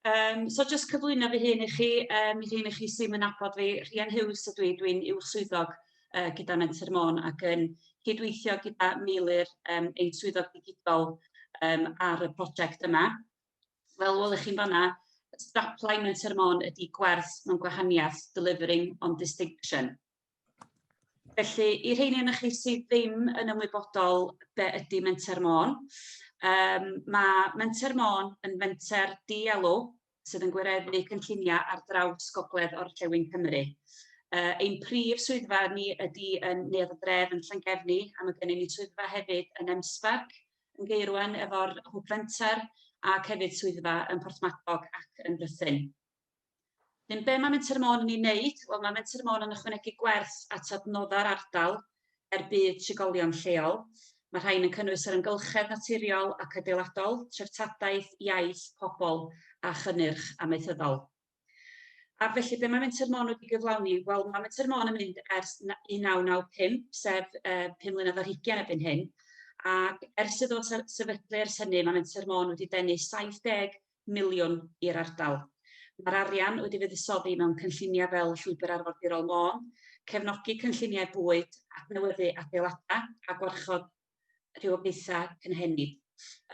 Yym, so jyst cyflwyno fy hun i chi, yym, i rhei'n chi sy'm yn nabod fi, Rhian Huws ydw i, dwi'n Uwch Swyddog yy gyda Menter Môn ac yn cydweithio gyda Meilir, yym, ein Swyddog Digidol yym ar y prosiect yma. Fel welwch chi'n fanna, strapline Menter Môn ydy gwerth mewn gwahaniaeth, delivering on distinction. Felly, i rheini yn chi sydd ddim yn ymwybodol be ydy Menter Môn, um, mae Menter Môn yn fenter dielw sydd yn gwireddu cynlluniau ar draws gogledd o'r Llewyn Cymru. Uh, ein prif swyddfa ni ydy yn Neuadd y Dref yn Llangefni, a mae gennym ni swyddfa hefyd yn Emsbarc, yn Geirwen efo'r Hwb Fenter, ac hefyd swyddfa yn Porthmadog ac yn Rhythyn. Yn be mae Menter Môn yn ei wneud? Wel, mae Menter Môn yn ychwanegu gwerth at adnoddau'r ardal er budd trigolion lleol. Mae rhain yn cynnwys yr amgylchedd naturiol ac adeiladol, treftadaeth, iaith, pobl a chynnyrch amaethyddol. A felly, be mae Menter Môn wedi gyflawni? Wel, mae Menter Môn yn mynd ers 1995, sef uh, 5 mlynedd ar hugen ebyn hyn, ac ers iddo sefydlu ers hynny, mae Menter Môn wedi denu 70 miliwn i'r ardal. Mae'r arian wedi fuddsoddi mewn cynlluniau fel Llwybr Arfordirol Môn, cefnogi cynlluniau bwyd, adnewyddu adeiladau a gwarchod rhywogaethau cynhenid.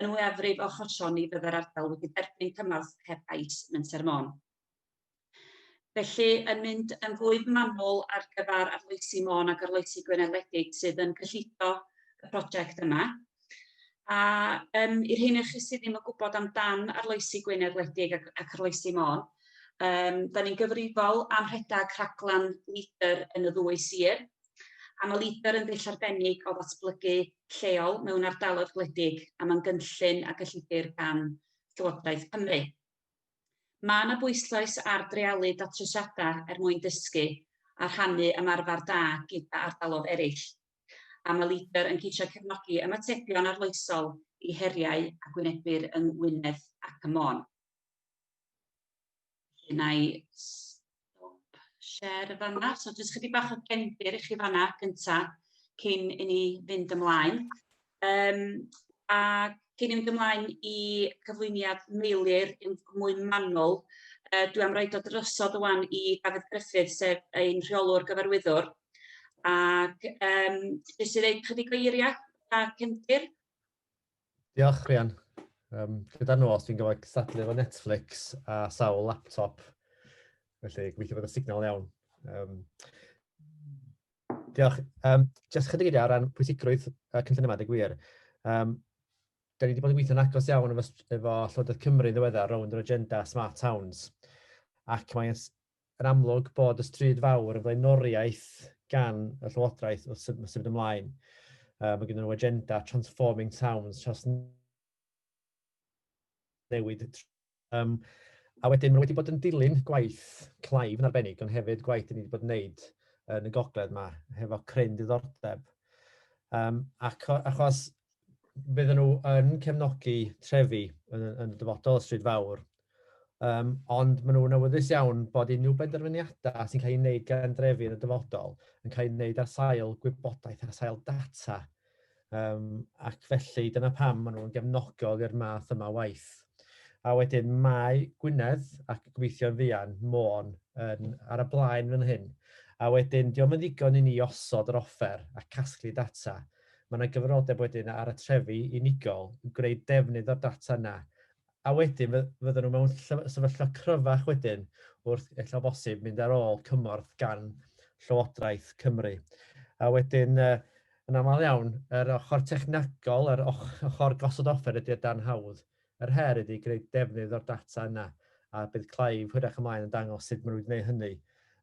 Yn fwyafrif o achosion ni fyddai'r ardal wedi derbyn cymorth heb gais Menter Môn. Felly, yn mynd yn fwy manwl ar gyfer arloesi Môn ac arloesi Gwynedd-ledig sydd yn cyllido y prosiect yma. A um, i'r hyn chi sydd ddim yn gwybod amdan arloesi Gwynedd-ledig ac, ac arloesi Môn, um, da ni'n gyfrifol am rhedeg rhaglen LEADER yn y ddwy sir, a mae LEADER yn ddull arbennig o ddatblygu lleol mewn ardaloedd gwledig, a mae'n gynllun a gyllidir gan Llywodraeth Cymru. Mae yna bwyslais ar dreialu datrysiadau er mwyn dysgu a rhannu ymarfer da gyda ardaloedd eraill. A mae LEADER yn ceisio cefnogi ymatebion arloesol i heriau a gwynebir yng Ngwynedd ac ym Môn. Felly, na i share yn fanna. So jyst chydig bach o gendir i chi fanna gynta cyn i ni fynd ymlaen. Um, a cyn i ni fynd ymlaen i cyflwyniad Meilir yn mwy manwl, uh, dwi am roi dod drosodd ywan i Dafydd Griffith, sef ein rheolwr gyfarwyddwr. Ac um, jyst i ddweud chydig o eiriau a cyndir. Diolch, Rhian. Um, gyda'r nos, fi'n gofod cystadlu efo Netflix a sawl laptop. Felly, gweithio bod y signal iawn. Um, diolch. Um, Jyst chydig eiliad ar ran pwysigrwydd y cynllun yma, dy gwir. Um, da ni wedi bod yn gweithio'n agos iawn efo, efo Llywodraeth Cymru yn ddiweddar rownd yr agenda Smart Towns. Ac mae'n yn amlwg bod y stryd fawr yn flaenoriaeth gan y Llywodraeth wrth symud ymlaen. Mae gen nhw agenda Transforming Towns, tros newid um, a wedyn mae wedi bod yn dilyn gwaith Clive yn arbennig, ond hefyd gwaith dyn ni wedi bod yn wneud yn y gogledd yma, hefo cryn diddordeb. Um, ac achos bydden nhw yn cefnogi trefi yn, yn y dyfodol Stryd Fawr. Um, ond maen nhw'n awyddus iawn bod unrhyw benderfyniadau sy'n cael ei wneud gan drefi yn y dyfodol yn cael ei wneud ar sail gwybodaeth, ar sail data. Um, ac felly dyna pam maen nhw'n gefnogol i'r math yma waith. A wedyn mae Gwynedd ac gobeithio'n fuan Môn yn, ar y blaen fan hyn. A wedyn, diolch yn ddigon i ni osod yr offer a casglu data – Mae yna gyfrifoldeb wedyn ar y trefi unigol yn gwneud defnydd o'r data yna, a wedyn fy- fyddan nhw mewn ll- sefyllfa cryfach wedyn wrth, ella o bosib, mynd ar ôl cymorth gan Llywodraeth Cymru. A wedyn, yy, yn aml iawn, yr ochr technegol, yr och- ochr gosod offer ydy o dan hawdd Yr her ydy gwneud defnydd o'r data yna, a bydd Clive hwyrach ymlaen yn dangos sut maen nhw wedi gwneud hynny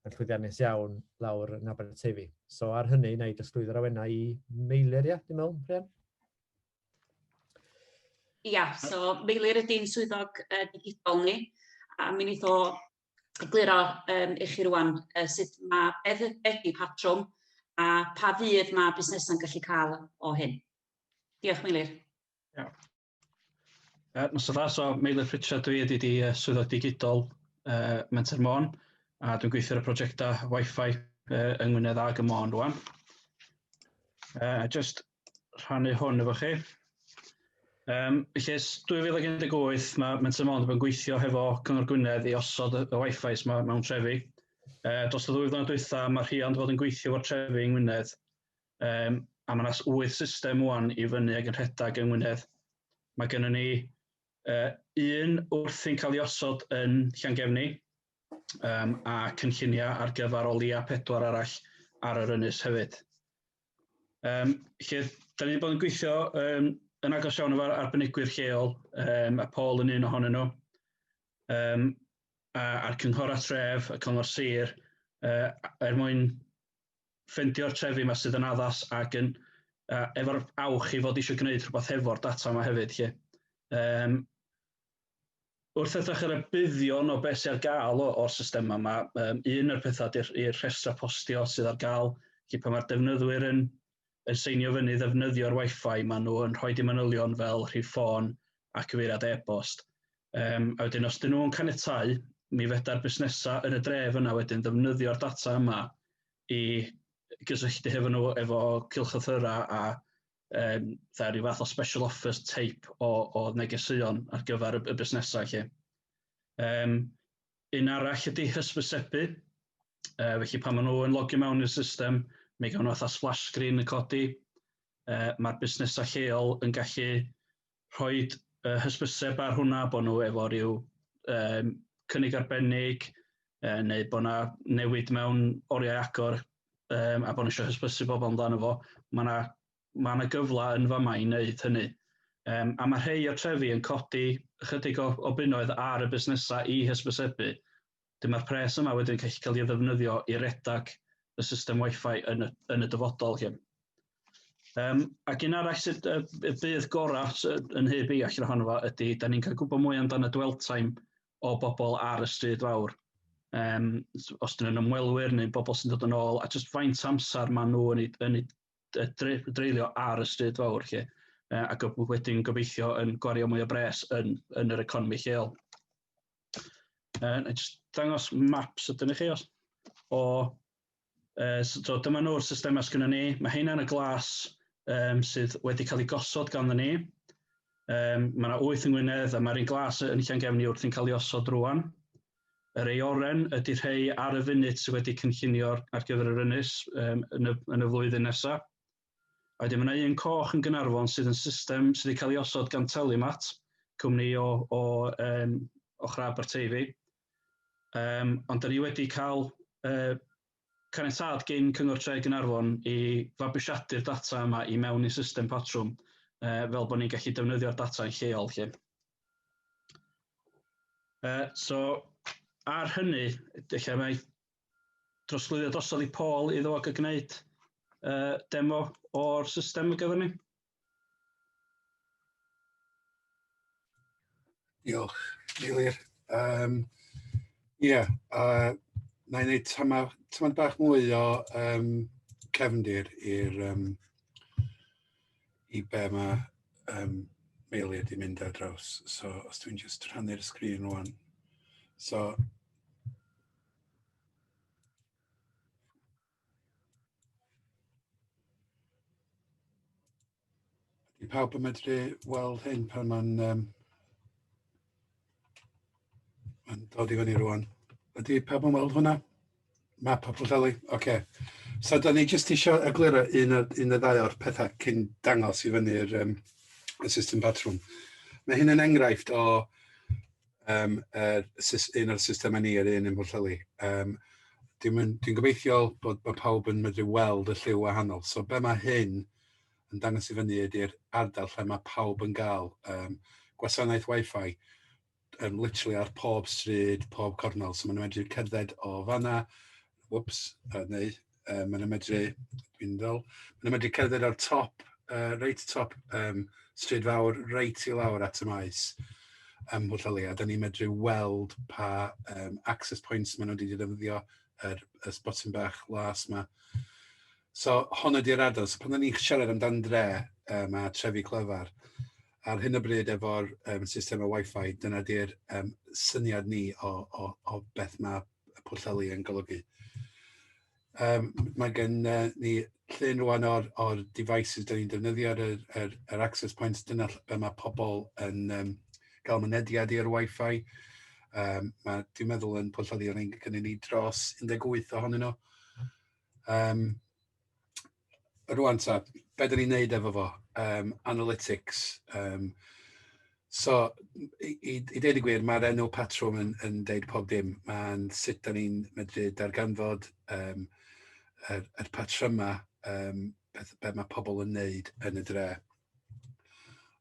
yn llwyddiannus iawn lawr yn Aberteifi. So ar hynny, wna i drosglwyddo'r awennau i Meilir, ia, dwi'n meddwl, Rhian? Ia, so Meilir ydy'n swyddog uh, digidol ni, a mi wnaeth o egluro um, i chi rwan uh, sut mae beth ydy patrwm a pa fydd mae busnesau'n gallu cael o hyn. Diolch, Meilir. Ia, Uh, Nos da, so Meilir Pritchard dwi ydy di uh, swyddog digidol uh, Menter Môn a dwi'n gweithio ar y prosiectau Wi-Fi uh, yng Ngwynedd ag y Môn rwan. Uh, just rhannu hwn efo chi. Um, felly, 2018 mae Menter Môn yn gweithio hefo Cyngor Gwynedd i osod y Wi-Fi yma mewn trefi. Uh, dros y ddwy flynedd dwytha, mae rhiant fod yn gweithio o'r trefi yng Ngwynedd Um, a mae yna wyth system wwan i fyny ag yn rhedeg yng Ngwynedd. Mae gennym ni uh, un wrthi'n cael ei osod yn Llangefni um, a cynlluniau ar gyfer o leia pedwar arall ar yr ynys hefyd. Um, lle, da ni wedi bod yn gweithio um, yn agos iawn efo'r arbenigwyr lleol, um, a Paul yn un ohonyn nhw, um, a'r cynghor a tref, y cyngor sir, uh, er mwyn ffendio'r trefi yma sydd yn addas ac yn uh, efo'r awch i fod eisiau gwneud rhywbeth hefo'r data yma hefyd. Lle. Um, wrth edrych ar y buddion o beth sy'n ar gael o'r system yma, um, un o'r pethau i'r rhestra postio sydd ar gael, lle pan mae'r defnyddwyr yn yn seinio fyny ddefnyddio'r wifi maen nhw yn rhoi i manylion fel rhif ffôn a cyfeiriad e-bost. Um, a wedyn os dyn nhw'n caniatau, mi feda'r busnesau yn y dref yna wedyn ddefnyddio'r data yma i gysylltu hefo nhw efo cilchlythyrau a um, dda, rhyw fath o special offers type o, o negeseuon ar gyfer y, y busnesau lle. Um, Un arall ydy hysbysebu, uh, felly pan maen nhw yn logio mewn i'r system, mi gawn nhw fatha splash screen yn codi, uh, mae'r busnesau lleol yn gallu rhoi uh, hysbyseb ar hwnna bod nhw efo rhyw um, cynnig arbennig uh, neu bod yna newid mewn oriau agor um, a bod nhw eisiau hysbysu bobl amdano fo. Mae yna mae yna gyfle yn fama i wneud hynny. Um, a mae rhai o'r trefi yn codi ychydig o, o bunnoedd ar y busnesau i hysbysebu. Dyma'r pres yma wedyn gallu cael ei ddefnyddio i redag y system Wi-Fi yn y, yn y dyfodol. Hyn. Um, ac un arall sydd y, y bydd gorau yn hyb i allan ohono fo ydy, da ni'n cael gwybod mwy amdano dwell time o bobl ar y stryd fawr. Um, os dyn nhw'n ymwelwyr neu bobl sy'n dod yn ôl, a jyst faint amser maen nhw yn ei, yn ei dreulio ar y stryd fawr lle, uh, ac wedyn gobeithio yn gwario mwy o bres yn, yn yr economi lleol. Uh, na just dangos maps ydyn ni chi os, o, uh, so dyma nhw'r systemau sgynny ni, mae hynna'n y glas um, sydd wedi cael ei gosod ganddo ni. Um, mae yna wyth yng Ngwynedd a mae'r un glas yn Llangefni wrth yn cael ei osod rwan. Yr aeoren ydy rhei ar y funud sydd wedi cynllunio ar gyfer yr ynys um, yn, y, yn y flwyddyn nesaf. A wedyn mae yna un coch yn Gynarfon sydd yn system sydd wedi cael ei osod gan Telemat, cwmni o, o, um, o Chrab Barteifi. Um, ond da ni wedi cael uh, Caniatâd gin Cyngor Tre Gaernarfon i fabwysiadu'r data yma i mewn i'n system patrwm yy fel bod ni'n gallu defnyddio'r data yn lleol 'lly. Yy so ar hynny ella mae drosglwyddiad drosodd i Paul iddo fo ga'l gneud yy demo o'r system ar gyfer ni. Diolch, Eilir. Um, Ie, yeah, uh, na i wneud tamad, tamad bach mwy o um, cefndir i'r um, i be mae um, Meilir di mynd ar draws. So, os dwi'n just rhannu'r sgrin rwan. So, Ydy pawb yn medru weld hyn pan mae'n um, mae'n dod i fyny rwan. Ydy pawb yn weld hwnna? Map o Pwllheli, oce. Okay. So da ni jyst eisiau egluro un, un y ddau o'r pethau cyn dangos i fyny'r um, y system patrwm. Mae hyn yn enghraifft o um, er, un o'r systemau ni, yr un yn Pwllheli. Um, Dwi'n dwi gobeithio bod, bod pawb yn medru weld y lliw wahanol. So be mae hyn yn dangos i fyny ydy'r ardal lle mae pawb yn gael um, gwasanaeth Wi-Fi um, literally ar pob stryd, pob cornol. So maen nhw'n medru cerdded o fanna, whoops, uh, neu uh, maen nhw'n medru, dwi'n ddol, maen nhw'n medru cerdded ar top, uh, reit top um, stryd fawr, reit i lawr at y maes ym Mhwllheli, a da ni'n medru weld pa um, access points maen nhw wedi defnyddio yr, yr sbotyn bach las yma. So, hon ydy'r adol. So, pan da ni'n siarad amdan dre um, a trefi clyfar, ar hyn o bryd efo'r um, system o Wi-Fi, dyna di'r um, syniad ni o, o, o beth mae y pwllheli yn golygu. Um, mae gen uh, ni llun rwan o'r, or devices dyn ni'n defnyddio ar yr, yr, yr access points, dyna be mae pobl yn um, gael mynediad i'r Wi-Fi. Um, mae, dwi'n meddwl yn pwllheli o'n ein gynnu ni dros 18 ohonyn nhw. Um, rwan ta, be dyn ni'n neud efo fo, um, analytics. Um, so, i, i, i dweud y gwir, mae'r enw patrwm yn, yn deud pob dim. Mae'n sut dyn ni'n medru darganfod um, yr, yr patrymau um, beth, beth mae pobl yn neud yn y dre.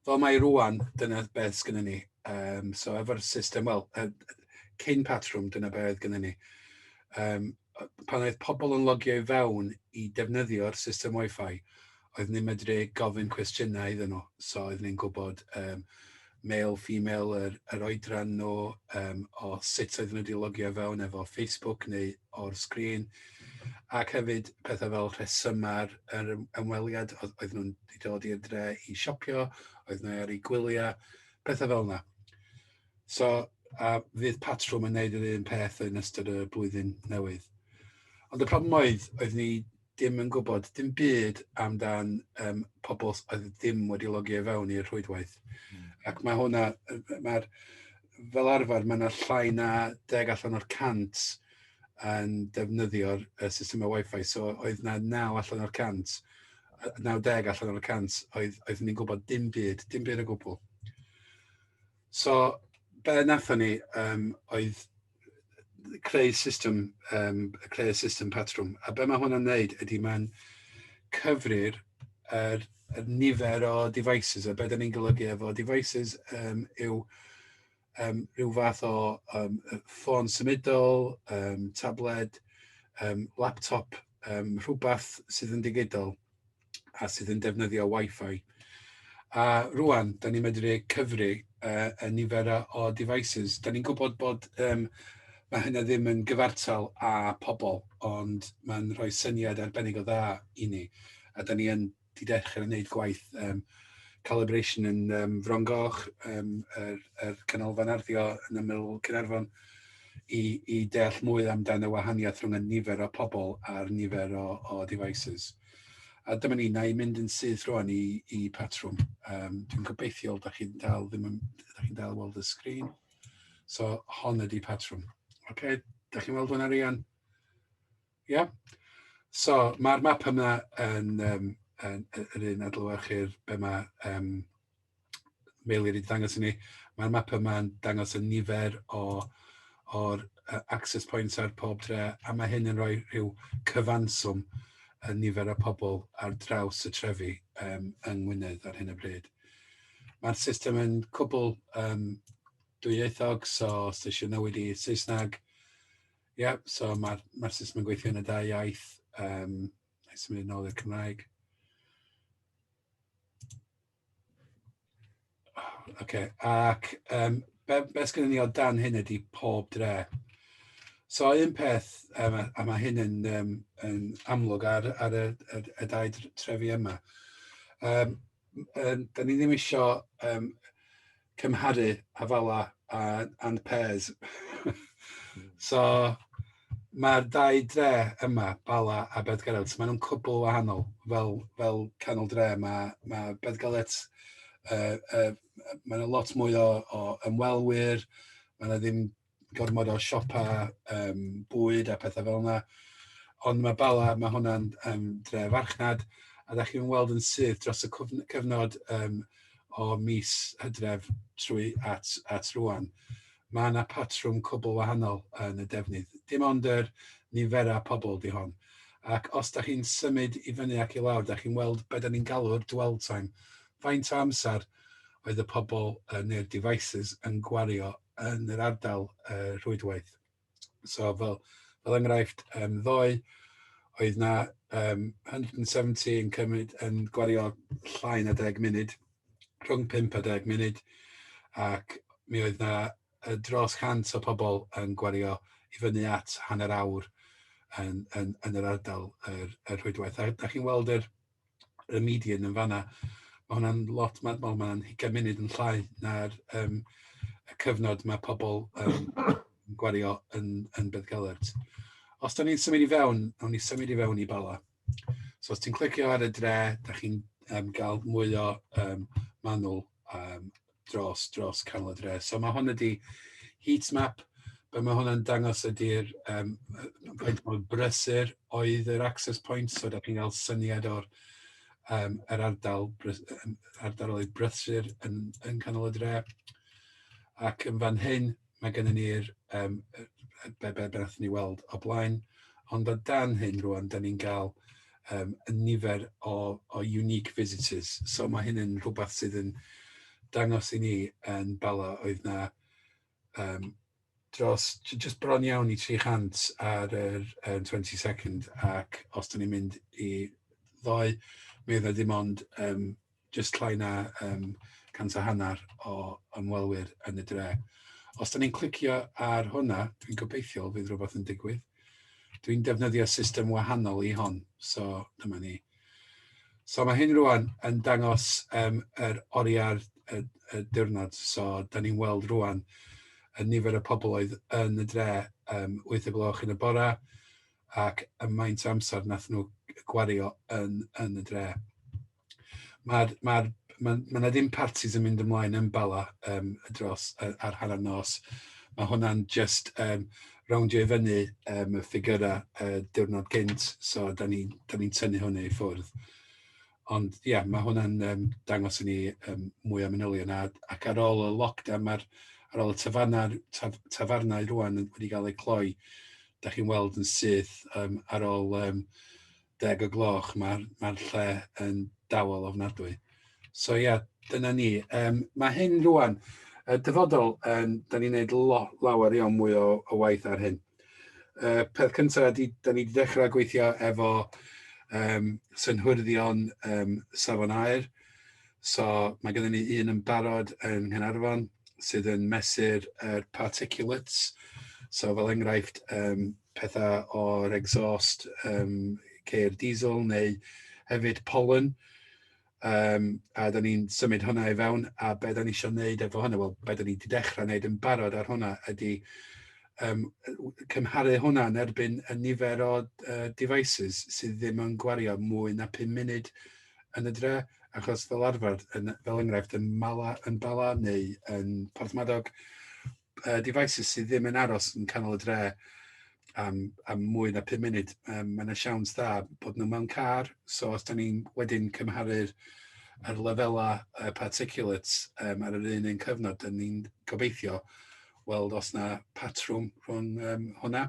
Fel mae rwan, dyna beth sgynna ni. Um, so efo'r system, wel, uh, cyn patrwm, dyna beth oedd gynna ni. Um, pan oedd pobl yn logio i fewn i defnyddio'r system Wi-Fi, oedd ni'n medru gofyn cwestiynau iddyn nhw. So oedd ni'n gwybod um, male, female, yr, yr oedran nhw, um, o sut oedden nhw wedi logio fewn efo Facebook neu o'r sgrin, ac hefyd pethau fel rhesymau yr ymweliad, oedd nhw'n dod i'r dre i siopio, oedd nhw ar ei gwyliau, pethau fel yna. So, a fydd patrwm yn gwneud yr un peth yn ystod y blwyddyn newydd. Ond y problem oedd, oedd ni dim yn gwybod dim byd amdan um, pobl oedd ddim wedi logio i fewn i'r rhwydwaith. Mm. Ac mae hwnna, mae'r, fel arfer, mae yna llai na deg allan o'r cant yn defnyddio'r uh, systemau Wi-Fi. So oedd na naw allan o'r cant, naw deg allan o'r cant oedd, oedd ni'n gwybod dim byd, dim byd o gwbl. So, be nathon ni um, oedd creu system, um, creu system patrwm. A be mae hwnna'n neud ydy mae'n cyfrir yr, yr nifer o devices, a beth ni'n golygu efo devices um, yw um, rhyw fath o um, ffôn symudol, um, tabled, um, laptop, um, rhywbeth sydd yn digidol. a sydd yn defnyddio Wi-Fi. A rwan, da ni'n medru cyfri uh, y nifer o devices. Da ni'n gwybod bod um, mae hynna ddim yn gyfartal â pobl, ond mae'n rhoi syniad arbennig o dda i ni. A da ni yn di dechrau wneud gwaith um, calibration yn um, Fron Goch, um, yr, yr canolfan arddio yn ymyl Cynarfon, i, i deall mwy amdano wahaniaeth rhwng y nifer o pobl a'r nifer o, o devices. A dyma ni, na i mynd yn syth rwan i, i patrwm. Um, Dwi'n gobeithiol, da chi'n dal, ddim yn, da chi'n dal weld y sgrin. So, hon ydi patrwm. Oce, okay, da chi'n weld hwnna rian? Ie? Yeah? So, mae'r map yma yn, um, yn, yn, yn un adlywyrchu'r be mae um, Meilir wedi dangos i ni, mae'r map yma'n dangos y nifer o o'r uh, access points ar pob dre, a mae hyn yn rhoi rhyw cyfanswm y nifer o pobl ar draws y trefi um, yng Ngwynedd ar hyn o bryd. Mae'r system yn cwbl um, dwyieithog, so os eisiau newid i Saesneg, ie, yeah, so mae'r ma, r, system yn gweithio yn y dau iaith, um, neu symud yn ôl i'r Cymraeg. Okay. ac um, be, be sgynny ni o dan hyn ydy pob dre. So un peth, um, a mae hyn yn, um, yn amlwg ar, ar y, y, y dau trefi yma, um, um, da ni ddim eisiau um, cymharu Avalor a and Pairs. so mae'r dau dre yma, Bala a Bedgalet, maen nhw'n cwbl wahanol. Fel, fel canol dre, mae, mae Bedgalet, uh, uh, maen nhw lot mwy o, o ymwelwyr, maen nhw ddim gormod o siopau um, bwyd a pethau fel yna. Ond mae Bala, mae hwnna'n um, dre farchnad, a da chi'n weld yn syth dros y cyfnod um, o mis hydref trwy at, at rwan. Mae yna patrwm cwbl wahanol yn y defnydd. Dim ond yr niferau pobl di hon. Ac os da chi'n symud i fyny ac i lawr, da chi'n weld beth da ni'n galw'r dwell time. Faint o amser oedd y pobl uh, neu'r devices yn gwario yn yr ardal uh, rhwydwaith. So fel, fel enghraifft, um, ddoe oedd na um, 170 yn cymryd yn gwario llai na 10 munud, rhwng 5 a 10 munud, ac mi oedd na dros 100 o pobl yn gwario i fyny at hanner awr yn, yn, yn yr ardal yr, yr rhwydwaith. A da chi'n weld yr, y median yn fanna. Mae hwnna'n lot, mae'n ma, ma hugain munud yn llai na'r um, y cyfnod mae pobl um, gwario yn, yn Beth Gelert. Os da ni'n symud i fewn, awn ni symud i fewn i Bala. So os ti'n clicio ar y dre, da chi'n um, gael mwy o um, manwl um, dros, dros canol y dre. So mae hwn ydi heat map, be mae hwnna'n dangos ydy'r um, faint mor brysur oedd yr access point, so da chi'n cael syniad o'r um, yr ardal, ardal oedd brysur yn, yn canol y dre. Ac yn fan hyn, mae gennym ni'r um, be, be, be ni weld o blaen, ond o dan hyn rwan, da ni'n cael um, nifer o, o unique visitors. So mae hyn yn rhywbeth sydd yn dangos i ni yn bala oedd na um, dros, just bron iawn i 300 ar yr um, 22nd ac os da ni'n mynd i ddoe, mi oedd na dim ond um, jyst llai na um, cant a hanner o ymwelwyr yn y dre. Os da ni'n clicio ar hwnna, dwi'n gobeithio fydd rhywbeth yn digwydd. Dwi'n defnyddio system wahanol i hon, so dyma ni. So mae hyn rwan yn dangos um, yr oriau'r y, y diwrnod, so da ni'n weld rwan y nifer y pobl oedd yn y dre um, 8 y gloch yn y bora ac y maint amser nath nhw gwario yn, yn y dre. Mae'r, mae'r, mae, mae yna ddim parties yn mynd ymlaen yn bala um, dros ar, ar hanner nos. Mae hwnna'n just um, rowndio i fyny um, y ffigurau uh, diwrnod gynt, so da ni'n ni, ni tynnu hwnna i ffwrdd. Ond ie, yeah, mae hwnna'n um, dangos i ni um, mwy o manylion. A, ac ar ôl y lockdown, mae'r ar ôl y tafarnau, taf, tafarnau rwan wedi cael eu cloi, da chi'n weld yn syth um, ar ôl um, deg o gloch, mae'r mae lle yn dawel ofnadwy. So ia, yeah, dyna ni. Um, mae hyn rwan, y dyfodol, um, da ni'n gwneud lo, lawer iawn mwy o, o waith ar hyn. Uh, peth cyntaf, da ni wedi dechrau gweithio efo um, synhwyrdion um, safon aer, So mae gennym ni un yn barod yng Nghaernarfon sydd yn mesur yr particulates. So fel enghraifft, um, pethau o'r exhaust um, ceir diesel neu hefyd pollen. Um, a da ni'n symud hwnna i fewn a be da ni eisiau gwneud efo hwnna, wel, be da ni wedi dechrau gwneud yn barod ar hwnna ydy um, cymharu hwnna yn erbyn y nifer o uh, devices sydd ddim yn gwario mwy na 5 munud yn y dre, achos fel arfer, yn, fel enghraifft, yn, Mala, yn Bala neu yn Porthmadog, uh, devices sydd ddim yn aros yn canol y dre am, am mwy na 5 munud. Um, mae yna siawns dda bod nhw mewn car, so os da ni'n wedyn cymharu'r ar lefelau uh, particulates um, ar yr un un cyfnod, dyn ni'n gobeithio weld os na patrwm rhwng um, hwnna.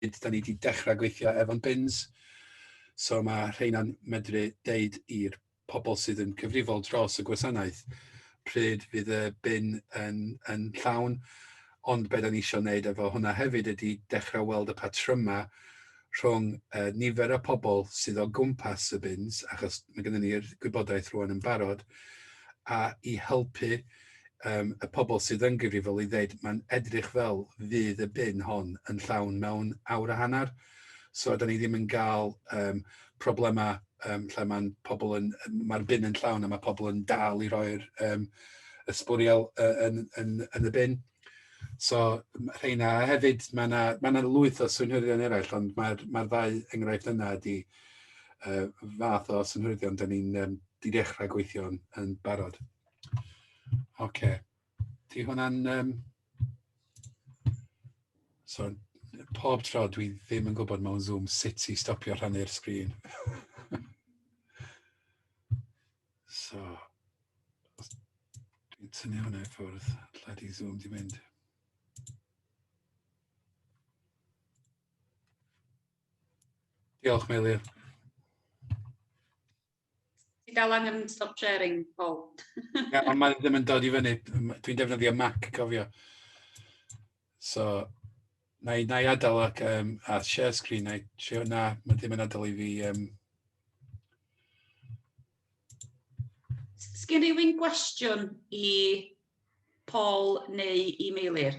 pryd da ni wedi dechrau gweithio efo'n bins. So mae rheina'n medru deud i'r pobl sydd yn cyfrifol dros y gwasanaeth pryd fydd y bin yn, yn llawn. Ond beth da ni eisiau gwneud efo hwnna hefyd ydy dechrau weld y patrymau rhwng uh, nifer y pobl sydd o gwmpas y bins, achos mae gennym ni'r gwybodaeth rwan yn barod, a i helpu um, y pobl sydd yn gyfrifol i ddeud mae'n edrych fel fydd y bin hon yn llawn mewn awr a hanner. So da ni ddim yn gael um, problemau um, lle mae'n pobl yn, mae'r bin yn llawn a mae pobl yn dal i roi'r um, ysbwriel uh, yn, yn, yn y bin. So rheina, a hefyd mae yna ma, na, lwyth o synhwyddion eraill, ond mae'r ma ddau enghraifft yna ydy uh, fath o synhwyddion da ni'n um, di dechrau gweithio yn barod. Oce. Okay. Di hwnna'n... Um... So, pob tro dwi ddim yn gwybod mewn Zoom sut i stopio rhannu'r sgrin. so, dwi'n tynnu hwnna i ffwrdd. Lle di Zoom di mynd? Diolch, Meilir. Ti dal angen stop sharing, Paul. Ie, ond mae ddim yn dod i fyny. Dwi'n defnyddio Mac, cofio. So, na i, na i adael ac, um, a share screen, na i trio, na, mae ddim yn adael i fi... Um... Sgyn rhywun gwestiwn i Paul neu i Meilir?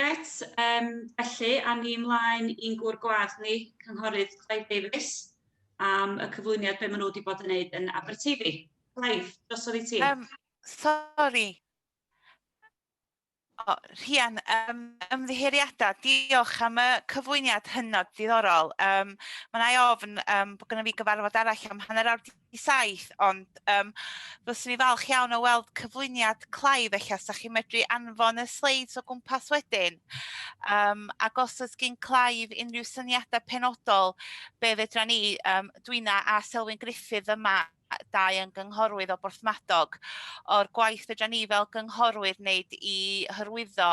Gret, um, felly, a ni ymlaen i'n gwr gwad ni, Cynghorydd Clive Davies, am y cyflwyniad be maen nhw wedi bod yn gwneud yn Aberteifi. Clive, drosodd i ti. Um, sorry, O, Rhian, um, ymddiheuriadau, diolch am y cyflwyniad hynod diddorol. Um, mae yna ofn um, bod gennym ni gyfarfod arall am hanner awr i saith, ond yym fyswn i'n falch iawn o weld cyflwyniad Clive ella, os chi'n medru anfon y sleids o gwmpas wedyn. Um, ac os oes gen Clive unrhyw syniadau penodol, be fedra ni, um, Dwyna a Selwyn Griffith yma, dau yn gynghorwydd o Borthmadog, o'r gwaith fedra ni fel gynghorwydd wneud i hyrwyddo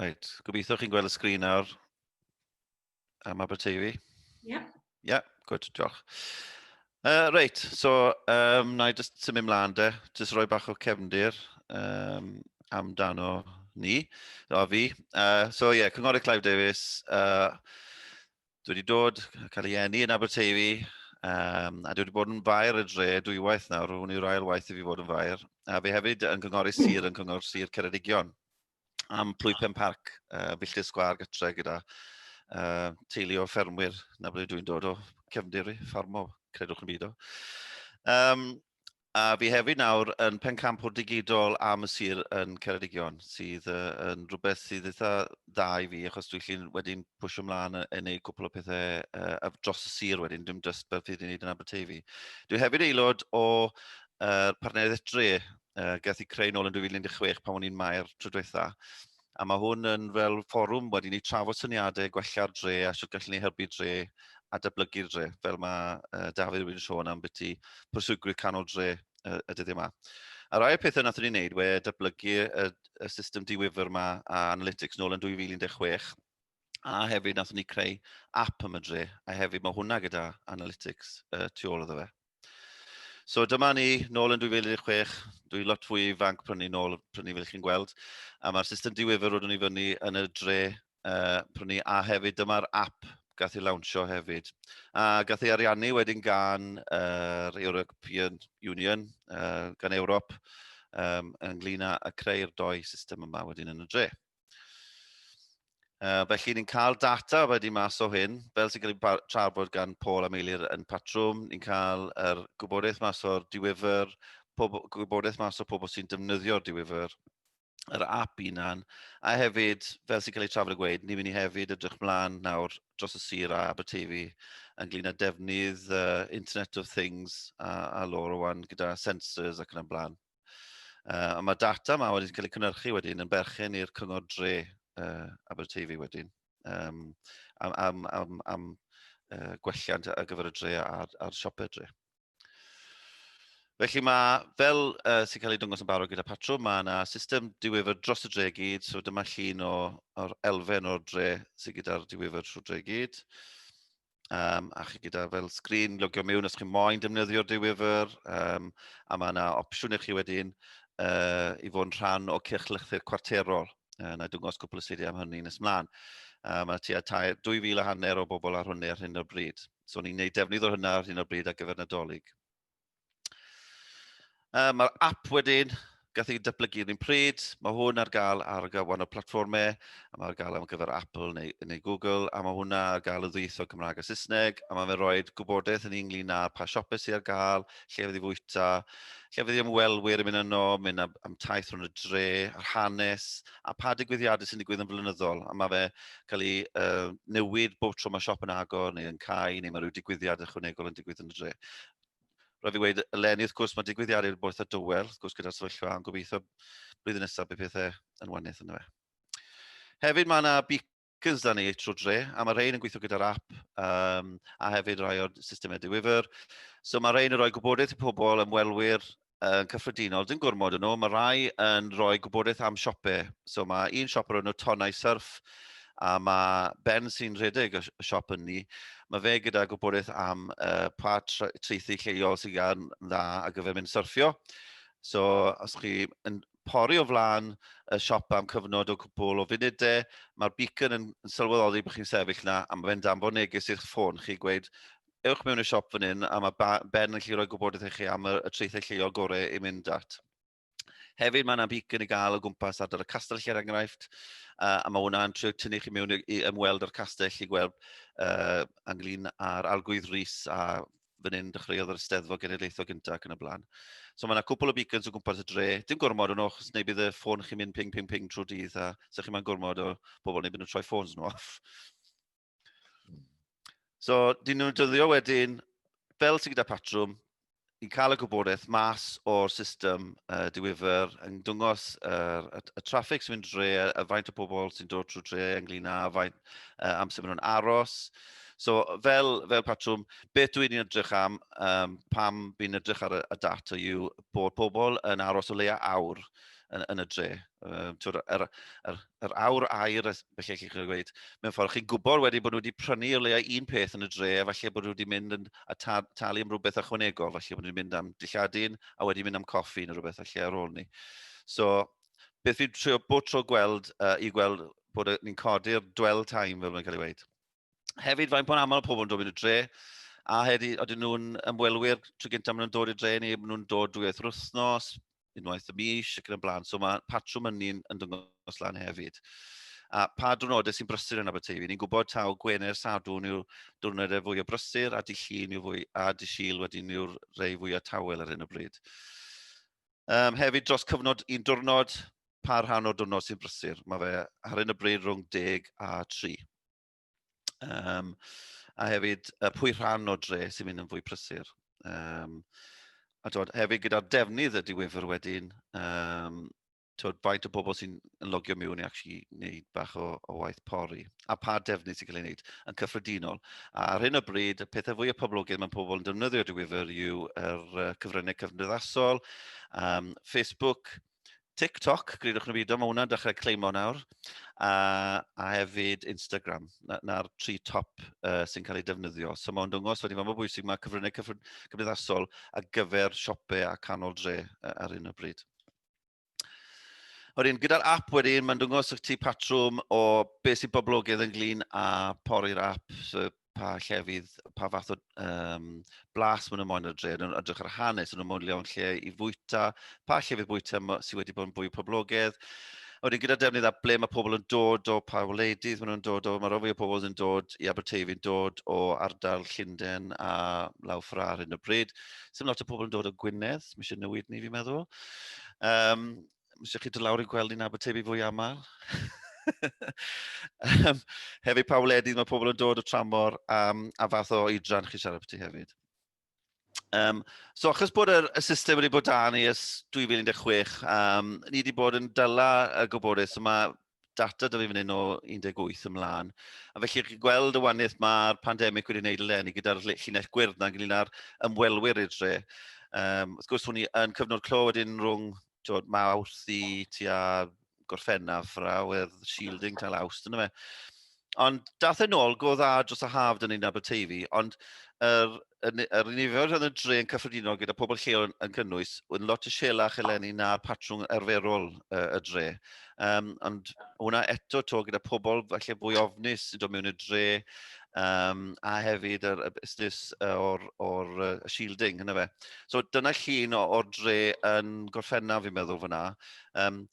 Right, gobeithio chi'n gweld y sgrin nawr am Aberteifi. Ie. Yeah. Ie, yeah, gwyd, diolch. Uh, reit, so um, na i jyst symud mlaen de, jyst rhoi bach o cefndir um, amdano ni, o fi. Uh, so ie, yeah, Cynghorydd Clive Davies, uh, Dwi wedi dod, cael ei enni yn Aberteifi, um, a dwi wedi bod yn fair y dre dwywaith nawr, hwn yw'r ail waith i fi fod yn fair, a fi hefyd yn cynghori sir yn cynghor sir Ceredigion am Plwy Pen Parc, uh, filltir sgwar gytre gyda uh, teulu o ffermwyr, na ble dwi'n dod o cefndir i, ffarmo, credwch yn byd o. Um, A fi hefyd nawr yn pencampwr digidol am y sir yn Ceredigion, sydd uh, yn rhywbeth sydd eitha dda i fi, achos dwi'n llun wedyn pwysio ymlaen yn ei gwpl o pethau uh, dros y sir wedyn, dim just beth fydd i'n neud yn Aberteifi. Dwi hefyd aelod o uh, partneriaeth dre, uh, gath i creu nôl yn 2016 pan o'n i'n mae'r trwy dweitha. A mae hwn yn fel fforwm wedyn i trafod syniadau gwella'r dre a sut gallwn ni helpu dre a dyblygu'r dre, fel mae uh, Dafydd wedi'n sôn am beth i proswygwyr canol dre uh, y dyddiau yma. A rai o'r pethau nath ni wneud we dyblygu y, y system diwyfr yma a analytics nôl yn 2016 a hefyd nath ni creu app am y dre a hefyd mae hwnna gyda analytics uh, tu ôl iddo fe. So dyma ni, nôl yn 2016, dwi lot fwy ifanc prynu nôl prynu fel chi'n gweld, a mae'r system diwifr roeddwn i fyny yn y dre uh, prynu, a hefyd dyma'r app gath ei lawnsio hefyd. A gath ei ariannu wedyn gan yr uh, European Union, uh, gan Ewrop, um, ynglyn â creu'r doi system yma wedyn yn y dre. Uh, felly ni'n cael data wedi mas o hyn, fel sy'n cael ei trafod gan Paul a Meilir yn patrwm, ni'n cael yr er gwybodaeth mas o'r diwyfr, gwybodaeth mas o pobl sy'n defnyddio'r diwyfr, yr app unan, a hefyd, fel sy'n cael ei trafod y gweud, ni'n mynd i hefyd ydrych mlaen nawr dros y sir a Aberteifi ynglyn â defnydd uh, Internet of Things a, a lor o wan gyda sensors ac yn y blaen. Uh, a mae data yma wedi'n cael ei cynnyrchu wedyn yn berchen i'r cyngor dre uh, Aberteifi wedyn. Um, am, am, am, am uh, gwelliant ar gyfer y dre a'r, ar siopau dre. Felly mae, fel uh, sy'n cael ei dwngos yn barod gyda patrwm, mae yna system diwyfr dros y dre gyd, so dyma llun o, o'r elfen o'r dre sydd gyda'r diwyfr trwy dre gyd. Um, a chi gyda fel sgrin logio mewn os chi'n moyn defnyddio'r diwyfr, um, a mae yna opsiwn i chi wedyn uh, i fod yn rhan o cyrchlythyr cwarterol. Uh, na dwngos cwpl o slidiau am hynny nes mlaen. Uh, mae tua 2,000 a hanner o bobl ar hwnni ar hyn o'r bryd. So ni'n gwneud defnydd o'r hynna ar hyn o'r bryd ar gyfer Nadolig. Uh, Mae'r app wedyn, gath ei datblygu yn un pryd, mae hwn ar gael ar gyfan o platformau, a mae ar gael am gyfer Apple neu, neu Google, a mae hwnna ar gael y ddwyth o Cymraeg a Saesneg, a mae'n rhoi gwybodaeth yn ynglyn â pa siopau sy'n ar gael, lle fydd i fwyta, lle fydd i ymwelwyr yn mynd yno, mynd am, am taith rhwng y dre, a'r hanes, a pa digwyddiadau sy'n digwydd yn flynyddol, a mae fe cael ei uh, newid bob tro mae siop yn agor neu yn cael, neu mae rhyw digwyddiad ychwanegol yn digwydd yn y dre. roedd i wedi dweud eleni, wrth gwrs, mae digwyddiadau i'r boeth a dywel, wrth gwrs, gyda'r sefyllfa, a'n gobeithio blwyddyn nesaf bydd pethau yn wanydd yna fe. Hefyd mae yna beacons da ni trwy dre, a mae rhain yn gweithio gyda'r app, um, a hefyd rai o'r systemau diwyfr. So mae rhain yn rhoi gwybodaeth i pobl, ymwelwyr, yn cyffredinol, dim gormod yn nhw, mae rhai yn rhoi gwybodaeth am siopau. So mae un siop o'r enw Tonau Surf, a mae Ben sy'n rhedeg y siop yn ni, mae fe gyda gwybodaeth am uh, pa treithi lleol sy'n gan dda a gyfer mynd syrffio. So os chi yn pori o flaen y siop am cyfnod o cwpl o funudau, mae'r beacon yn, yn sylweddoli bod chi'n sefyll yna a mae fe'n danfon neges i'ch ffôn chi gweud ewch mewn i'r siop fan hyn a mae Ben yn gallu rhoi gwybodaeth i chi am y, y traethau lleol gorau i mynd at. Hefyd mae yna beacon i gael o gwmpas ardal y castell lle er enghraifft, uh, a mae hwnna'n trio tynnu chi mewn i, i ymweld â'r castell i gweld uh, ynglyn â'r arglwydd Rhys a fan hyn dechreuodd yr ysteddfod genedlaethol gyntaf ac yn y blaen. So mae yna cwpl o beacons o gwmpas y dre. Dim gormod o'n o'ch, neu bydd y ffôn chi'n mynd ping, ping, ping trwy dydd a sa'ch chi'n mynd gormod o bobl neu bydd nhw'n troi ffôns nhw off. So, dyn nhw'n dyddio wedyn, fel sy'n gyda patrwm, i'n cael y gwybodaeth mas o'r system uh, diwyfer yn dwngos uh, y, y traffig sy'n mynd dre, y faint o bobl sy'n dod trwy dre ynglyn â faint uh, amser maen nhw'n aros. So fel, fel patrwm, beth dwi'n ni'n edrych am um, pam fi'n edrych ar y, y data yw bod pobl yn aros o leia awr yn, yn y dre. Um, twyd, er, er, yr awr air, felly chi'n cael gweud, mewn ffordd, chi'n gwybod wedi bod nhw wedi prynu o leiau un peth yn y dre, a falle bod nhw wedi mynd yn, a ta, talu am rhywbeth ychwanegol, falle bod nhw wedi mynd am dilladun, a wedi mynd am coffi neu rhywbeth falle ar ôl ni. So, beth fi'n trio bod tro gweld, uh, i gweld bod ni'n codi'r dwell time, fel mae'n cael ei weid. Hefyd, faint po'n aml pobl yn dod yn y dre, a hefyd, oedden nhw'n ymwelwyr tro gyntaf maen nhw'n dod i'r dre ni, maen nhw'n dod dwy oeth wythnos, unwaith y mis ac yn y blaen. So mae patrwm yn ni'n yn dangos lan hefyd. A pa diwrnodau sy'n brysur yn Aberteifi? Ni'n gwybod taw Gwener Sadwn yw'r diwrnodau fwy o brysur a di llun yw fwy a di syl wedyn yw'r rei fwy o tawel ar hyn o bryd. Um, hefyd dros cyfnod un diwrnod, pa rhan o'r diwrnod sy'n brysur? Mae fe ar hyn o bryd rhwng deg a tri. Um, a hefyd, uh, pwy rhan o dre sy'n mynd yn fwy prysur. Um, a dod, hefyd gyda'r defnydd y diwyfr wedyn, um, tywed, faint o bobl sy'n logio mewn i actually wneud bach o, o waith pori, a pa defnydd sy'n cael ei wneud yn cyffredinol. A ar hyn o bryd, y pethau fwy o poblogaidd mae pobl yn defnyddio diwyfr yw yr uh, cyfryngau cyfnoddathasol, um, Facebook, TikTok, gridwch neu beidio, mae hwnna'n dechrau cleimo nawr, a, a hefyd Instagram, na'r na tri top uh, sy'n cael ei defnyddio. So mae'n dwngos wedi fod mor bwysig mae cyfryngau cymdeithasol ar gyfer siopau a canol dre uh, ar hyn o bryd. Wedyn, gyda'r app wedyn, mae'n dwngos y ti patrwm o beth sy'n boblogaidd ynglyn a pori'r app, so pa llefydd, pa fath o um, blas maen nhw'n moyn ar dre, yn edrych ar hanes, yn nhw'n moyn lewn lle i fwyta, pa llefydd bwyta sydd wedi bod yn fwy poblogaidd. A wedyn gyda defnydd a ble mae pobl yn dod o, pa wleidydd maen nhw'n dod o, mae rhoi o pobl yn dod i Aberteifi'n dod o ardal Llundain a Law Ffrar yn y bryd. Sym lot o pobl yn dod o Gwynedd, mae eisiau newid ni fi'n meddwl. Um, Mae eisiau chi dod lawr i'n gweld ni'n Aberteifi fwy aml. um, hefyd pa wledydd mae pobl yn dod o tramor um, a fath o oedran chi siarad beth hefyd. Um, so achos bod y, y system wedi bod dan i ys 2016, um, ni wedi bod yn dyla y gwybodaeth, so mae data dylai fynd o 18 ymlaen. A felly chi'n gweld y waniaeth mae'r pandemig wedi gwneud eleni gyda'r llinell gwyrdd na'n gylun ar ymwelwyr i'r dre. Um, wrth gwrs, hwn i yn cyfnod clo wedyn rhwng tywed, mawrth i tua gorffennaf rawedd shielding tal awst yna fe. Ond dath e'n ôl, go dda dros y haf dyn ni'n Aberteifi, ond yr, yr, yr nifer yn y dre yn cyffredinol gyda pobl lleol yn, yn cynnwys yn lot y sielach eleni na'r patrwng arferol uh, y dre. Um, ond hwnna eto to gyda pobl falle fwy ofnus sy'n dod mewn y dre um, a hefyd yr, y busnes o'r, or, uh, shielding, hynny fe. So dyna llun o'r dre yn gorffennaf fi'n meddwl fyna. Um,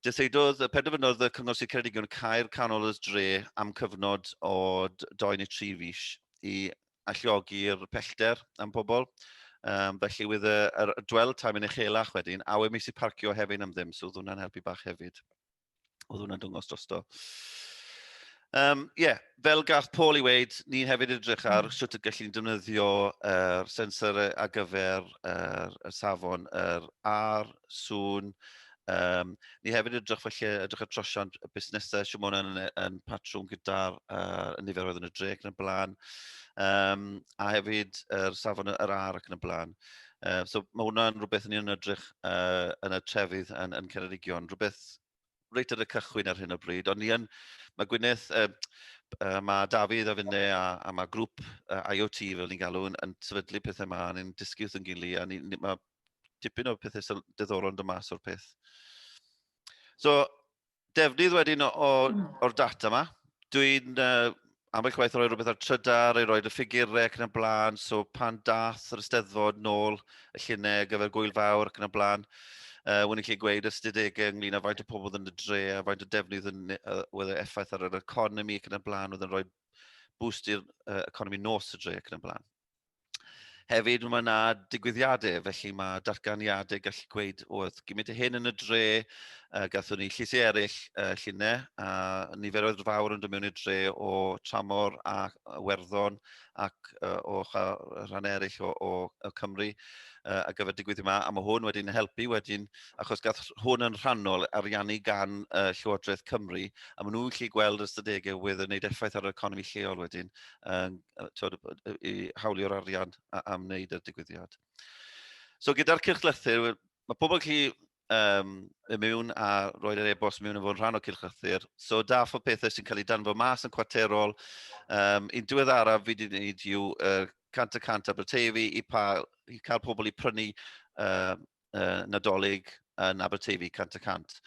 Dyseidodd, penderfynodd y Cyngor Sir Ceredigion cael canol y dre am cyfnod o 2 neu 3 fis i alliogi'r pellter am pobl. Um, felly wyd y, y, y dwell time yn uchelach wedyn, a we mis i parcio hefyd am ddim, so oedd hwnna'n helpu bach hefyd. Oedd hwnna'n dwngos drosto. Um, yeah, fel gall Paul i weid, ni hefyd edrych ar mm. sut y gallu ni'n defnyddio er, sensor ar gyfer er, y safon, yr er, ar, sŵn. Um, ni hefyd edrych felly, edrych ar trosiant y busnesau, sy'n mwyn yn, yn patrwm gyda'r uh, nifer oedd yn y drec yn y blaen, um, a hefyd yr er, safon yr er, ar ac yn y blaen. Uh, so mae hwnna'n rhywbeth ni'n edrych uh, yn y trefydd yn, yn Ceredigion, rhywbeth reit ar y cychwyn ar hyn o bryd, ond ni yn, mae Gwyneth, uh, uh, mae Dafydd a finne a, a mae grŵp uh, IoT fel ni'n galw yn, yn sefydlu pethau yma, ni'n dysgu wrth yn gili, a ni, ni, mae dipyn o pethau diddorol yn dod mas o'r peth. So, defnydd wedyn o'r data yma, dwi'n uh, ambell waith roi rhywbeth ar trydar i roed y ffigurau ac yn y blaen, so pan dath yr ysteddfod nôl y llunau ar gyfer gwyl fawr ac yn y blaen, uh, wna'n lle gweud ystadegau ynglyn â faint o pobl yn y dre a faint o defnydd yn, uh, oedd e effaith ar yr economi ac yn y blaen, oedd yn rhoi boost i'r uh, economi nos y dre ac yn y blaen. Hefyd mae yna digwyddiadau, felly mae datganiadau gallu gweud, oedd gymryd y hyn yn y dre, uh, gathwn ni llysiau eraill uh, llunau, a niferoedd fawr yn dod mewn i'r dre o tramor a werddon ac uh, o rhan eraill o, o, o Cymru uh, a gyfer digwydd yma, a mae hwn wedyn helpu wedyn, achos gath hwn yn rhannol ariannu gan uh, Llywodraeth Cymru, a maen nhw'n lle gweld ystadegau wedd yn gwneud effaith ar yr economi lleol wedyn, uh, i hawlio'r arian am wneud y digwyddiad. So gyda'r cylch lythyr, mae pobl chi um, y mewn a roed yr e-bost mewn yn fod yn rhan o cylch lythyr. So da fod pethau sy'n cael ei danfo mas yn cwarterol. Um, un diwedd araf fi wedi gwneud yw uh, cant y cant Aberteifi i, pa, i cael pobl i prynu uh, uh, Nadolig yn Aberteifi 100 y 100.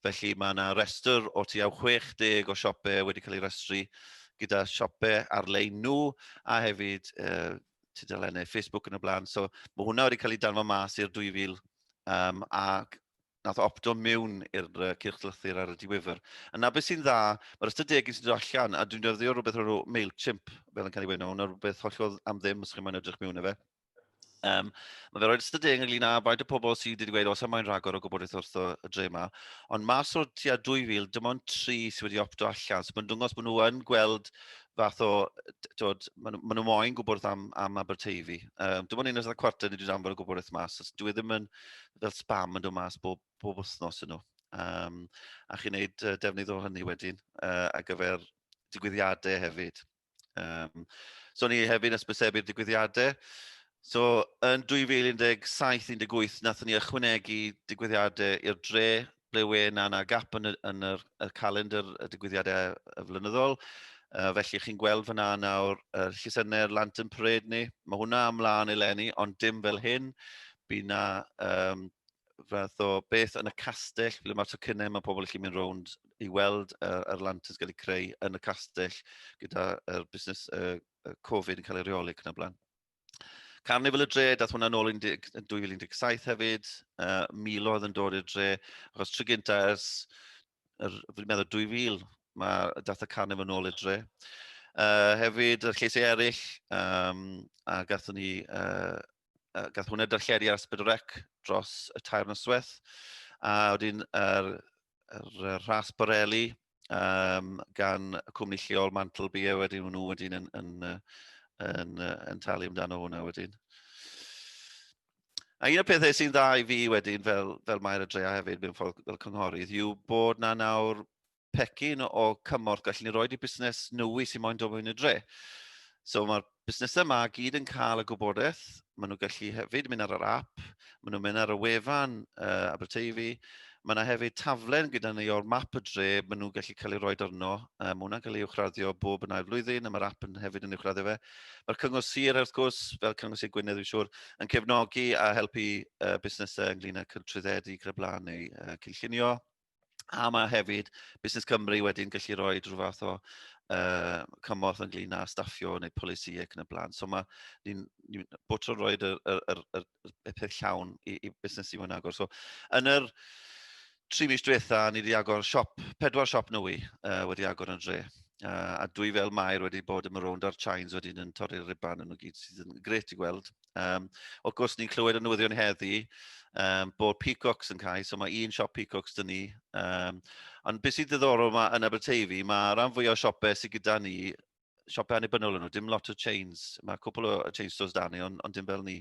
Felly mae yna restr o tu au 60 o siopau wedi cael ei restru gyda siopau ar-lein nhw a hefyd uh, tudalennau Facebook yn y blaen. So mae hwnna wedi cael ei danfod mas i'r 2000 um, a nath opto mewn i'r uh, cyrchlythyr ar y diwyfr. Yna beth sy'n dda, mae'r ystod degyn sy'n dod allan, a dwi'n dyrddio rhywbeth o'r MailChimp, fel yn cael ei wneud, hwnna rhywbeth hollol am ddim os chi'n mynd edrych mewn i fe. Um, mae fe roed ystod deg ynglyn â faint o pobl sydd wedi dweud os am moyn rhagor o gwybodaeth wrth y dre yma. Ond mas o'r tua 2000, dim ond tri sydd wedi opto allan. So mae'n dwngos bod nhw yn gweld fath o, tywed, maen nhw, nhw moyn gwybod am, am Aberteifi. Um, dim ond un oes yna cwarter ni wedi anfod o gwybodaeth mas. So, dwi e ddim yn fel spam yn dod mas bob, bob wythnos yn nhw. Um, a chi'n neud uh, defnydd o hynny wedyn uh, ar gyfer digwyddiadau hefyd. Um, so ni hefyd yn ysbysebu'r digwyddiadau. So yn 2017-18 nathon ni ychwanegu digwyddiadau i'r dre ble we na na gap yn y, yn yr, y calendr y digwyddiadau y flynyddol. Uh, felly chi'n gweld fyna nawr uh, llysenau'r Lantern Parade ni. Mae hwnna ymlaen eleni, ond dim fel hyn. Bydd na um, fath o beth yn y castell, ble mae'r tocynnau, mae pobl yn mynd rownd i weld yr, yr lanterns gael eu creu yn y castell gyda'r er busnes uh, Covid yn cael ei reoli ac yn y blaen. Carnival y dre, dath hwnna'n ôl yn 2017 hefyd, uh, milodd yn dod i'r dre, achos tro gynta ers, er, fi'n meddwl 2000, mae dath y carnival yn ôl i'r dre. Uh, hefyd, yr lleisiau eraill, um, a gathon ni uh, uh, gath hwnna darlledu ar Ysbryd Rec dros y tair noswaith. A wedyn yr, yr, yr Ras Borelli um, gan y cwmni lleol Mantle Beer wedyn nhw wedyn yn, yn, yn, yn, yn talu amdano hwnna wedyn. A un o'r pethau sy'n dda i fi wedyn fel, fel Mair y Drea hefyd mewn ffordd fel cynghorydd yw bod na nawr pecyn o cymorth gallen ni roed i busnes nwy sy'n moyn dod mewn i'r dre. So mae'r busnesau yma gyd yn cael y gwybodaeth, maen nhw'n gallu hefyd mynd ar yr app, maen nhw'n mynd ar y wefan uh, Aberteifi, Mae yna hefyd taflen gyda ni o'r map y dre, maen nhw'n gallu cael ei roi arno. Um, mae hwnna'n cael ei uwchraddio bob yn ail flwyddyn, a mae'r app yn hefyd yn uwchraddio fe. Mae'r Cyngor Sir, wrth gwrs, fel Cyngor Sir Gwynedd, dwi'n siŵr, yn cefnogi a helpu uh, busnesau ynglyn â trwyddedu gyda blaen neu uh, cynllunio. A mae hefyd Busnes Cymru wedyn gallu rhoi rhyw fath o uh, cymorth ynglyn â staffio neu polisi ac yn y blaen. So mae ni'n ni, bod tro'n rhoi y, y, y, y, y peth llawn i, i busnes i fod yn agor. So yn yr tri mis diwetha, ni wedi agor siop, pedwar siop nwy uh, wedi agor yn dre. Uh, a dwi fel Mair wedi bod yn rownd ar Chines wedyn yn torri'r riban yn y gyd sydd yn gret i gweld. Um, wrth gwrs, ni'n clywed y newyddion heddi um, bod Peacocks yn cael, so mae un siop Peacocks dyn ni. Um, ond beth sy'n ddiddorol mae yn Aberteifi, mae rhan fwy o siopau sydd gyda ni, siopau annibynnol yn nhw, dim lot o chains, mae cwpl o chain stores da ni, ond, on dim fel ni.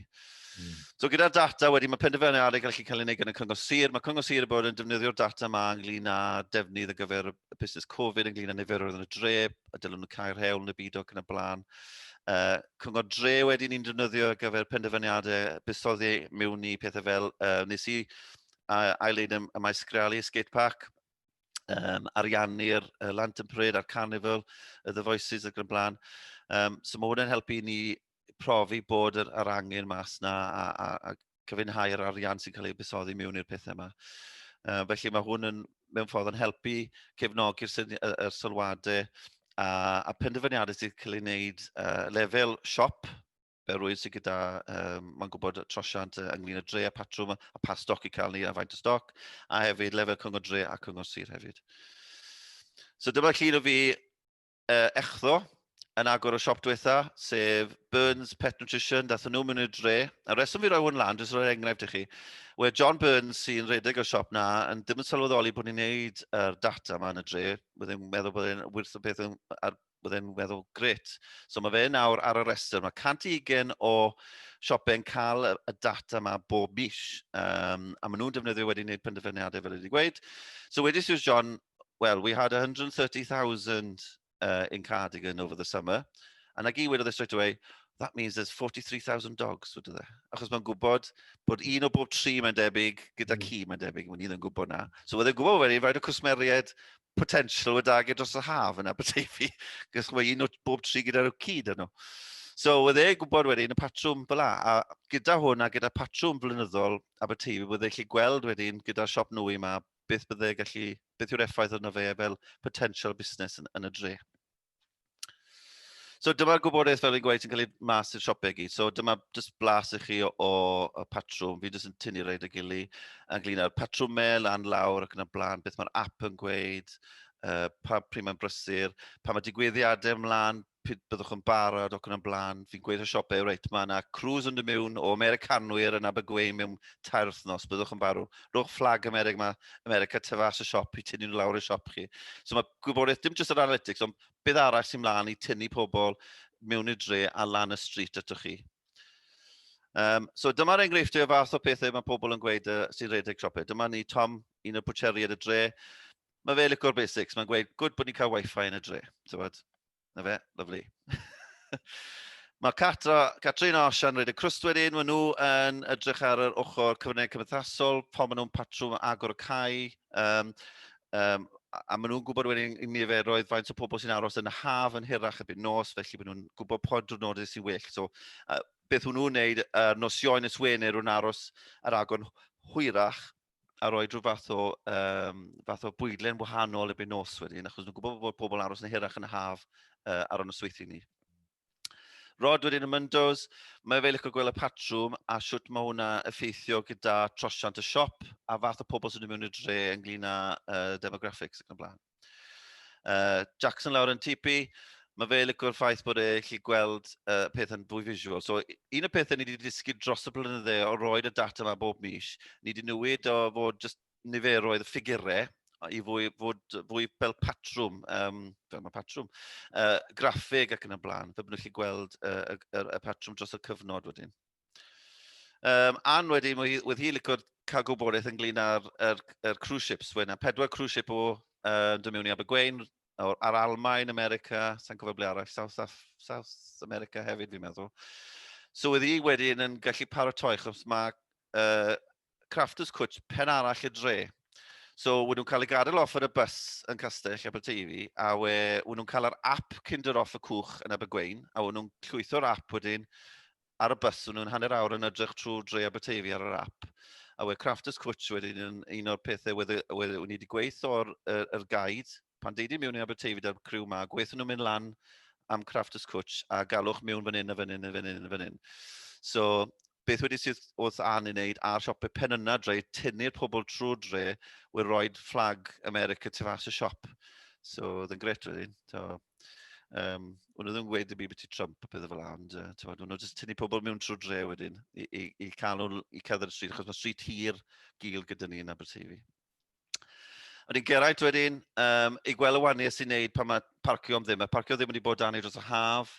Mm. So gyda'r data wedi, mae penderfynu ar ei gallu cael ei wneud gan y Cyngor Sir. Mae Cyngor Sir yn bod yn defnyddio'r data yma ynglyn â defnydd ar gyfer y y busnes Covid ynglyn â niferoedd yn y dre, a dylwn nhw cael rhewl yn y byd ac yn y blaen. Uh, cyngor dre wedi ni'n defnyddio ar gyfer penderfyniadau busoddi mewn i pethau fel uh, nes i uh, ail-leid y, y maes grealu, skate park, um, ariannu'r uh, Lantern Parade a'r Carnival, y The Voices ac yn blaen. Um, so mae hwnna'n helpu ni profi bod yr, yr angen mas na a, a, a cyfynhau'r arian sy'n cael ei busoddi mewn i'r pethau yma. Uh, felly mae hwn yn, mewn ffordd yn helpu cefnogi'r sylwadau a, a penderfyniadau sy'n cael ei wneud uh, lefel siop fel rwy'n sy'n gyda, um, mae'n gwybod trosiant uh, ynglyn y dre a patrwm a pa stoc i cael ni a faint o stoc, a hefyd lefel cyngor dre a cyngor sir hefyd. So dyma llun o fi uh, echddo yn agor y siop diwetha, sef Burns Pet Nutrition, dath nhw mewn i'r dre. A reswm fi roi hwn lan, dwi'n rhoi enghraifft i chi, we John Burns sy'n redeg y siop na, yn ddim yn sylweddoli bod ni'n neud yr data yma yn y dre, byddai'n meddwl bod e'n wirth y peth yn, ar, bod e'n meddwl gret. So mae fe nawr ar y restr, mae 120 o siopau yn cael y data yma bob mis, um, a maen nhw'n defnyddio wedi wneud penderfyniadau fel wedi gweud. So wedi Suze John, well, we had 130,000 uh, in Cardigan over the summer. And I gyd wedodd e straight away, that means there's 43,000 dogs, wedodd e. Achos mae'n gwybod bod un o bob tri mae'n debyg, gyda mm. ci mae'n debyg, mae'n un yn gwybod na. So oedd e'n gwybod wedyn, rhaid o cwsmeriaid potential wedi agor dros y haf yna, bydde fi, gos mae un o bob tri gyda'r cyd yno. So, oedd e'n gwybod wedyn y patrwm fel a gyda hwn a gyda patrwm flynyddol Aberteifi, oedd e'n lle gweld wedyn gyda'r siop nwy yma beth bydde gallu, beth yw'r effaith yna fe fel potential busnes yn, yn y dre. So dyma'r gwybodaeth fel fi'n gweud sy'n cael ei mas i'r siopau gyd. So dyma jyst blas i chi o, o, o patrwm. Fi jyst yn tynnu rhaid y gili ynglyn â'r patrwmau lan lawr ac yn y blaen, beth mae'r app yn gweud, uh, pa pryd mae'n brysur, pa mae digwyddiadau ymlaen, pryd byddwch yn barod ac yn o'n blaen, fi'n gweithio siopau, reit, mae yna cruise yn dy mewn o Americanwyr yn Abergwein mewn tair wythnos, byddwch yn barw. Rhowch fflag America, mae America tyfas y siop i tynnu nhw lawr y siop chi. So mae gwybodaeth, dim jyst yr analytics, ond beth arall sy'n mlaen i tynnu pobl mewn i'r dre a lan y street atoch chi. Um, so dyma'r enghreifftiau o fath o pethau mae pobl yn gweud uh, sy'n rhedeg siopau. Dyma ni Tom, un o'r bwcheriad y dre. Mae fe licor basics, mae'n gweud, gwyd bod ni'n cael wifi yn y dre, ti'n bod? Na fe, lyflu. Mae Catra, Catrin a Osian rhaid y crwst wedyn, maen nhw yn edrych ar yr ochr cyfryngau cymdeithasol, pan maen nhw'n patrwm agor y cae, um, um, a maen nhw'n gwybod wedyn i niferoedd faint o pobl sy'n aros yn y haf yn hirach y byd nos, felly maen nhw'n gwybod pob diwrnod sy'n well. So, uh, beth hwnnw'n wneud, uh, nosioen ys Wener, nhw'n aros ar agor hwyrach, a roi rhyw fath o, um, fath o bwydlen wahanol erbyn nos wedyn, achos nhw'n gwybod bod pobl aros yn hirach yn y haf uh, ar y nosweithio ni. Rod wedyn y Myndos, mae fe licio gweld y patrwm a siwt mae hwnna effeithio gyda trosiant y siop a fath o pobl sy'n mynd mewn i'r dre ynglyn â uh, demographics ac yn blaen. Uh, Jackson lawr yn TP, mae fe licwr ffaith bod e lle gweld uh, peth yn fwy visual. So, un o'r pethau ni wedi dysgu dros y blynydde o roed y data yma bob mis, ni wedi newid o fod just niferoedd y ffigurau i fwy, fod fwy fel patrwm, um, fel mae patrwm, uh, graffeg ac yn y blaen, fe byddwch chi gweld uh, y, y, y patrwm dros y cyfnod wedyn. Um, Anne wedi, wedi hi licio cael gwybodaeth ynglyn â'r er, er cruise ships. Fwy na pedwar cruise ship o uh, dod mewn i Abergwein, ar Almain, America, sa'n cofio ble arall, South, Af South America hefyd fi'n meddwl. So wedi hi wedyn yn gallu paratoi, chos mae uh, Crafters Cwtch pen arall y dre. So, wyd nhw'n cael ei gadael off ar y bus yn Castell Aberteifi, a we, wyd nhw'n cael yr app Kinder off y cwch yn Abergwein, a wyd nhw'n llwytho'r app wedyn ar y bus, nhw'n hanner awr yn edrych trwy Dre Aberteifi ar yr app, a we Crafters Cwtch wedyn yn un o'r pethau wedd ni wedi gweith o'r er, er gaid, pan deud i mewn i Aberteifi da'r criw ma, gweithio nhw'n mynd lan am Crafters Cwtch a galwch mewn fan hyn a fan hyn a fan hyn a fan hyn. So, beth wedi sydd wrth an i wneud a'r siopau pen yna dre, tynnu'r pobl trwy dre, we roed fflag America tu fas y siop. So, oedd yn gret wedyn. So, Um, o'n nhw ddim yn gweud y byd beth i Trump a pethau fel la, ond uh, o'n nhw jyst tynnu pobl mewn trwy dre wedyn i, i, i cael nhw i cadw'r stryd, achos mae stryd hir gil gyda ni yn Aberteifi. Ond i'n geraint wedyn, um, i gweld y waniau sy'n neud pan mae parcio am ddim. Mae parcio ddim wedi bod dan ei dros y haf.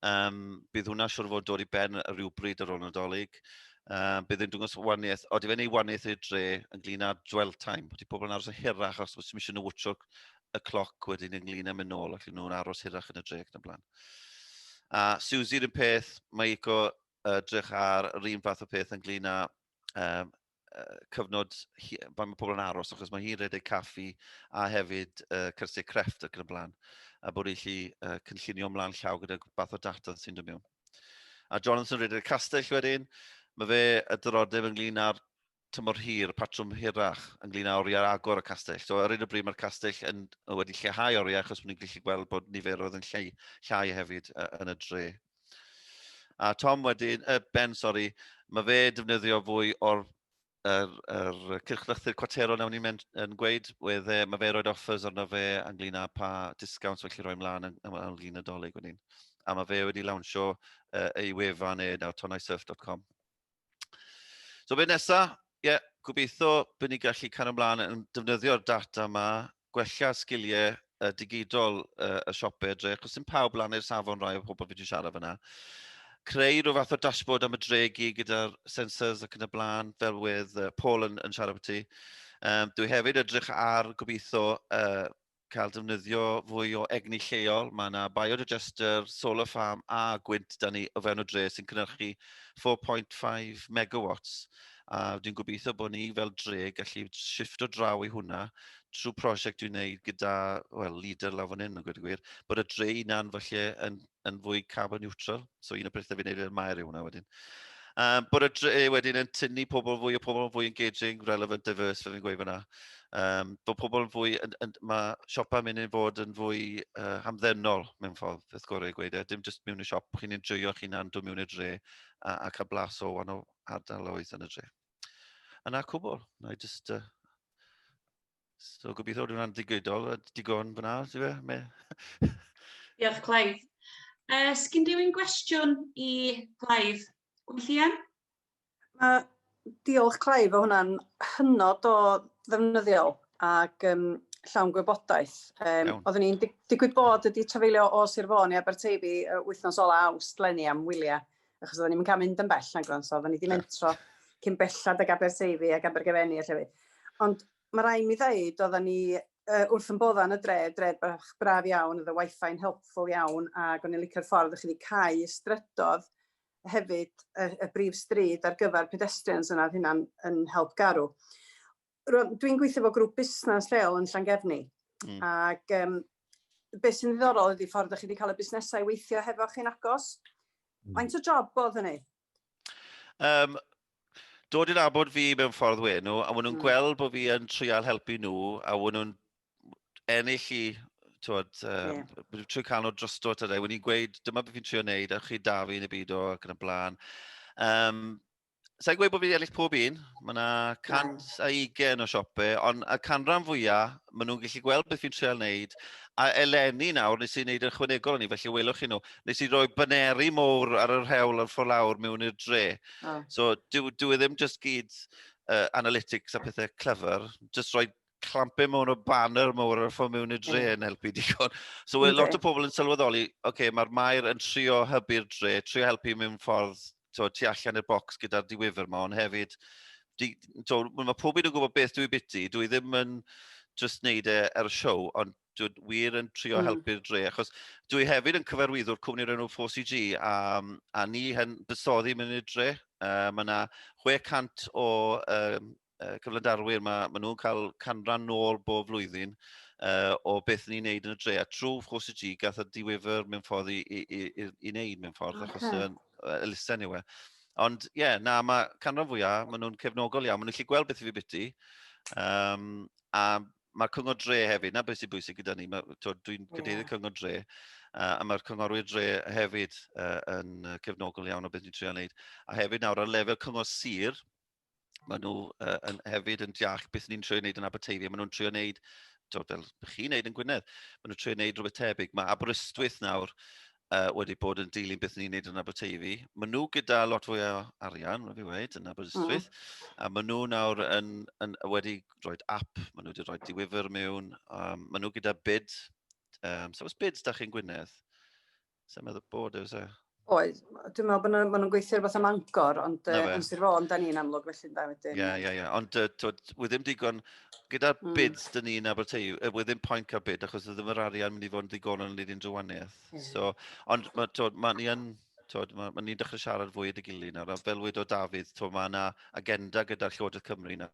Um, bydd hwnna siwr fod dod i ben rhywbryd ar ôl nadolig. Um, bydd yn dwngos waniaeth, o, di fe'n ei waniaeth i'r dre yn glin â dwell time. Di pobl yn aros yn hirach os bod sy'n eisiau nhw wtio y cloc wedyn ynglyn â mynd nôl ac nhw'n aros hirach yn y dre ac yn y blaen. A Susie yn peth, mae Ico uh, drych ar yr un fath o peth ynglyn â um, uh, cyfnod, pan mae pobl yn aros, achos mae hi'n redeg caffi a hefyd uh, cyrsiau crefft ac yn y blaen, a bod eich lli uh, cynllunio ymlaen llaw gyda fath o data sy'n dod mewn. A Jonathan redeg castell wedyn, mae fe y dyrodeb ynglyn â'r tymor hir, patrwm hirach ynglyn â oriau agor y castell. So, ar un o bryd mae'r castell yn, wedi lleihau oriau achos bod ni'n gallu gweld bod niferoedd yn llai, llai hefyd uh, yn y dre. A Tom wedyn, uh, Ben, sori, mae fe defnyddio fwy o'r yr, yr cyrchlythyr cwatero nawn ni'n yn gweud, wedd e, mae fe roed offers arno fe ynglyn â pa discounts felly roi mlaen yn, yn, yn lun nadolig wedyn. A mae fe wedi lawnsio uh, ei wefan e nawr, tonaisurf.com. So be nesa? Ie, yeah, gobeithio bydd ni gallu cario ymlaen yn defnyddio'r data yma, gwella sgiliau uh, digidol uh, y siopau edrych, achos sy'n pawb lan i'r safon rai o pobl fi wedi siarad fyna. Creu rhyw fath o dashboard am y dregu gyda'r sensors ac yn y blaen, fel wedd uh, Paul yn, yn siarad beth ti. Um, dwi hefyd edrych ar gobeithio uh, cael defnyddio fwy o egni lleol. Mae yna biodigester, solar farm a gwynt da ni o fewn y dre sy'n cynnyrchu 4.5 megawatts. A dwi'n gobeithio bod ni fel dre gallu shifft o draw i hwnna trwy prosiect dwi'n gwneud gyda well, leader lawr fan hyn yn gwneud y gwir, bod y dre unan falle yn yn fwy carbon neutral. So un o bethau fi'n neud i'r maer yw hwnna wedyn. Um, bod y dre eh, wedyn yn tynnu pobl fwy o pobl yn fwy engaging, relevant, diverse, fe fi'n gweud fyna. Um, bod pobl yn fwy, yn, yn, mae siopau mynd i'n fod yn fwy uh, hamddenol mewn ffordd, beth gorau i gweud e. Dim jyst mewn i siop, chi'n enjoyo chi'n hunan, dod mewn i'r dre a, a cael blas o wahanol ardaloedd yn y dre. Yna cwbl, na i just uh, So gobeithio bod hwnna'n digidol a digon fyna, ti fe? Me... Diolch, Clive. Uh, Sgyn rhywun gwestiwn i Clive? Gwyllian? Uh, diolch, Clive, o hwnna'n hynod o ddefnyddiol ac um, llawn gwybodaeth. Um, oeddwn i'n dig digwydd bod wedi trafeilio o Sir Fôn i Aberteifi uh, wythnos ola awst lenni am wyliau achos oedden ni'm yn cael mynd yn bell na Gronso, oedden ni wedi mentro cyn bellad ag Aberteifi ac Abergefenni a llefydd. Ond mae rai mi ddeud, oedden ni uh, wrth yn bodda yn y dre, dre bach braf iawn, oedd y wifi yn helpful iawn, ac o'n i'n licio'r ffordd o'ch chi wedi cael y strydodd hefyd y, y brif stryd ar gyfer pedestrians yna, oedd hynna'n yn help garw. dwi'n gweithio fo grŵp busnes lleol yn Llangefni, mm. ac um, beth sy'n ddiddorol ydy ffordd ydych chi wedi cael y busnesau i weithio hefo chi'n agos. Mm. Faint o job bod hynny? Um, dod i'n abod fi mewn ffordd we nhw, a maen nhw'n mm. gweld bod fi yn trial helpu nhw, a maen nhw'n ennill i twod, um, yeah. trwy cael nhw drosto tydau, wedi gweud, dyma beth fi'n trio wneud, a chi da fi yn y byd o ac yn y blaen. Um, Sa'n gweud bod fi wedi ennill pob un, mae yna 120 o siopau, ond y canran fwyaf, maen nhw'n gallu gweld beth fi'n treol wneud, a eleni nawr, nes i wneud ychwanegol o'n i, felly welwch chi nhw, nes i roi baneri mowr ar yr hewl ar ffordd lawr mewn i'r dre. Oh. So, dwi, dwi e ddim just gyd uh, analytics a pethau clever, just roi clampu mewn o banner mawr ar y ffordd mewn i'r dre yn helpu digon. So mae lot o pobl yn sylweddoli, oce, okay, mae'r maer yn trio hybu'r dre, trio helpu mewn ffordd to, tu allan i'r bocs gyda'r diwyfr yma, ond hefyd, di, to, mae pob un yn gwybod beth dwi biti, dwi ddim yn just wneud e ar y siow, ond dwi wir yn trio mm. helpu'r dre, achos dwi hefyd yn cyfarwyddwr cwmni o'r enw 4CG, a, a ni yn bysoddi mynd i'r dre. Uh, mae yna 600 o um, uh, cyflandarwyr, mae, ma nhw'n cael canran nôl bob flwyddyn uh, o beth ni'n neud yn y dre. A trwy wrth y G, gath y diwyfr mewn ffordd i, i, i, i, i wneud mewn ffordd, okay. achos yn uh, elusen yw e. Ond ie, yeah, na, mae canran fwyaf, maen nhw'n cefnogol iawn, maen nhw'n gallu gweld beth i fi biti. Um, a mae'r cyngor dre hefyd, na beth sy'n bwysig gyda ni, dwi'n cadeirydd yeah. cyngor dre, uh, a mae'r cyngorwyr dre hefyd uh, yn cefnogol iawn o beth ni'n trio wneud. A hefyd nawr ar lefel cyngor sir, maen nhw uh, yn, hefyd yn deall beth ni'n trio wneud yn Aberteifi. Maen nhw'n trio wneud, dod fel bych chi'n wneud yn Gwynedd, maen nhw'n trio wneud rhywbeth tebyg. Mae Aberystwyth nawr uh, wedi bod yn dilyn beth ni'n wneud yn Aberteifi. Maen nhw gyda lot fwy o arian, rwy'n fi wedi, yn Aberystwyth. Mm. A maen nhw nawr yn, yn, wedi rhoi app, maen nhw wedi rhoi diwyfr mewn. Um, maen nhw gyda bid. Um, so, os bids da chi'n Gwynedd, Sa'n meddwl bod e, fysa? Oes, dwi'n meddwl bod nhw'n ma nhw gweithio rhywbeth am angor, ond uh, yn Sir Fôn, da ni'n amlwg felly da wedyn. Ie, ie, ie. Ond uh, twyd, wyd ddim digon, gyda'r mm. bids dyn ni'n Aberteiw, uh, wyd ddim pwynt cael bid, achos ddim yr arian mynd i fod yn ddigonol yn un drwaniaeth. Yeah. So, ond mae ma ni yn Tod, mae, mae ni'n dechrau siarad fwy at y gilydd nawr, a fel wedi o Dafydd, mae yna agenda gyda'r Llywodraeth Cymru nawr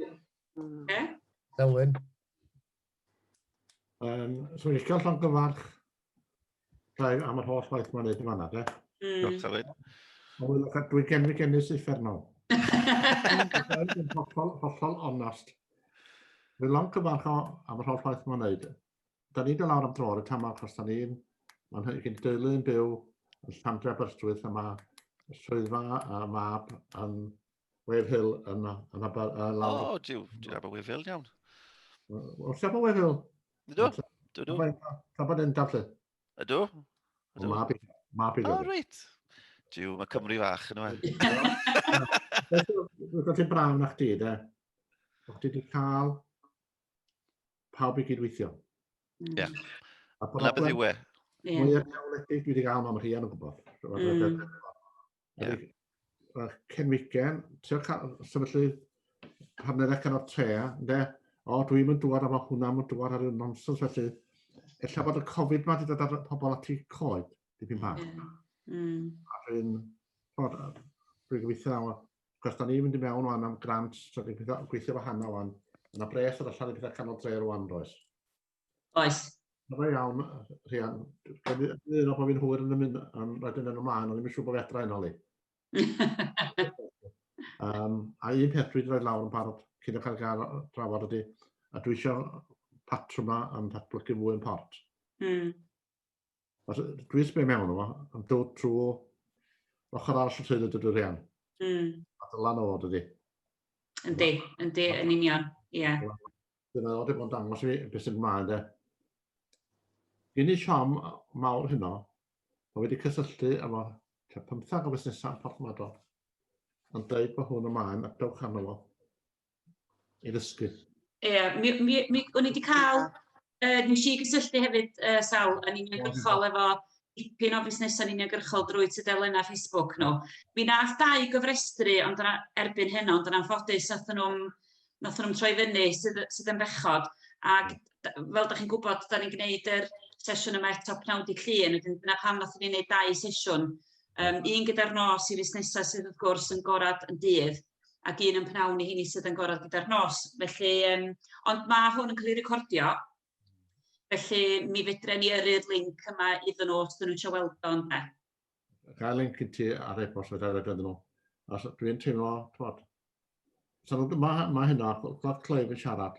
Ie? Elwyn. Um, so, eich cael llond gyfarch gael am yr holl waith mae'n neud yn fanna, de? Mm. Diolch, Elwyn. Dwi'n gen fi genus uffernol. Dwi'n hollol, hollol onast. Dwi'n llond gyfarch am yr holl waith mae'n neud. Da ni dod lawr am dro ar y tamau, achos da ni'n Mae'n hynny'n gen deulu yn byw yn Llandre Aberystwyth a mae swyddfa a mab yn Wave Hill yna. Yn Abar... O, diw, diw Abar Wave Hill iawn. O, siapa Wave Hill? Ydw, dw dw. Caban yn dafle. Ydw. O, ma byd. Ma byd. O, reit. Diw, mae Cymru fach yn yma. Rwy'n ti'n brawn na chdi, da. O'ch ti wedi cael pawb i gydweithio. Ie. Yeah. A pa beth yw e? Mwy o neoledig dwi wedi cael mam rhian yn gwybod. Mm. Yeah. Wel, Ken Wigan, ti'n cael sefydlu hanner ac o'r tre, ynddo? O, dwi'n mynd dŵad, a mae hwnna'n mynd dŵad ar y nonsens felly. Ella bod y Covid ma wedi dod ar pobl ati coed, dipyn bach. Yeah. Mm. A dwi'n, bod, dwi'n gweithio nawr, cos da ni'n mynd i mewn o'n am grant, so dwi'n gweithio wahanol o'n, yna bres ar allan i bethau canol tre rwan, does. Oes. Mae'n iawn, Rhian. Dwi'n meddwl bod fi'n hwyr yn y mynd, yn rhaid yn ymlaen, ond ddim yn siŵr bod fi adra yna, Lee. um, a un peth dwi'n rhoi lawr yn parod cyn y cael gael drafod ydy, a dwi eisiau patrwma yn datblygu fwy yn port. Mm. Os dwi'n sbio mewn yma, yn dod trwy ochr arall y teulu dydw rhan. Mm. A dylan o dydy. Yndi, yndi, yn union, ie. Yeah. Dyna oedd wedi bod yn dangos i mi beth sy'n gymlaen de. Gyn i siom mawr hynno, mae wedi cysylltu efo tua pymthag o fusnesau porthmadol, yn dweud bod hwn ymlaen a dewch arno fo. i ddysgu. Ie, yeah, mi, mi, mi, o'n i wedi cael, uh, nes i gysylltu hefyd, uh, Sal, yn uniongyrchol efo dipyn o busnesau uniongyrchol drwy tudalennau Facebook nhw. Mi nath dau gyfrestru ond yna, erbyn hyn, ond yna'n ffodus nath nhw'n nath nhw'n troi fyny sydd, sydd yn bechod. Ac fel da chi'n gwybod, da ni'n gwneud yr sesiwn yma eto pnawn di llun, wedyn dyna pam nath ni'n gwneud dau sesiwn. Um, un gyda'r nos i fusnesau sydd wrth gwrs yn gorad yn dydd, ac un yn pnawn i hini sydd yn gorau gyda'r nos. Felly, um, ond mae hwn yn cael ei recordio, felly mi fedre ni yrru'r link yma iddyn nhw os dyn nhw'n eisiau weld o'n da. Cael link i ti ar e-bost fedra i roed iddyn nhw. Os dwi'n teimlo, twod, so, mae, mae hynna, Clod Cleif yn siarad,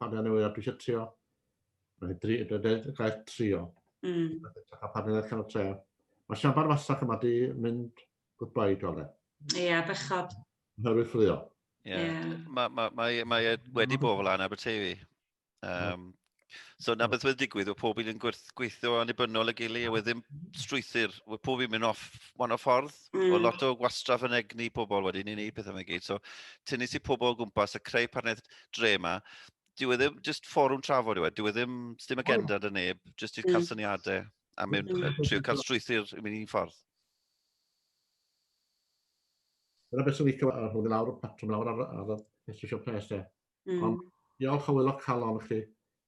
Partner newydd a dwi eisiau trio. Rhaid dri, dweud y gair trio. Mm. A partner newydd cael trio. Mae siambar fasach yma di mynd goodbye i dole. Ie, yeah, bechod. Herwydd ffrio. Ie. Yeah. Yeah. Mae ma, ma, ma e wedi bod fel anna Aberteifi. Um, So na beth wedi digwydd, oedd pob un yn gweithio annibynnol y gili, a wedyn strwythyr, oedd pob un mynd off wan o ffordd, mm. o lot o gwastraff yn egni pobl wedyn i wneud pethau yma gyd. So tynnu si pobl o gwmpas a creu partneriaeth, dre yma, dyw e ddim, jyst fforwm trafod yw e, dyw e ddim, ddim agenda dy neb, jyst i'r cael syniadau a mynd, trio cael strwythyr i mynd i'n ffordd. Dyna beth sy'n licio ar hwn i lawr, patrwm lawr ar, ar y Institution Press e. Mm. Ond diolch o wylo calon chi,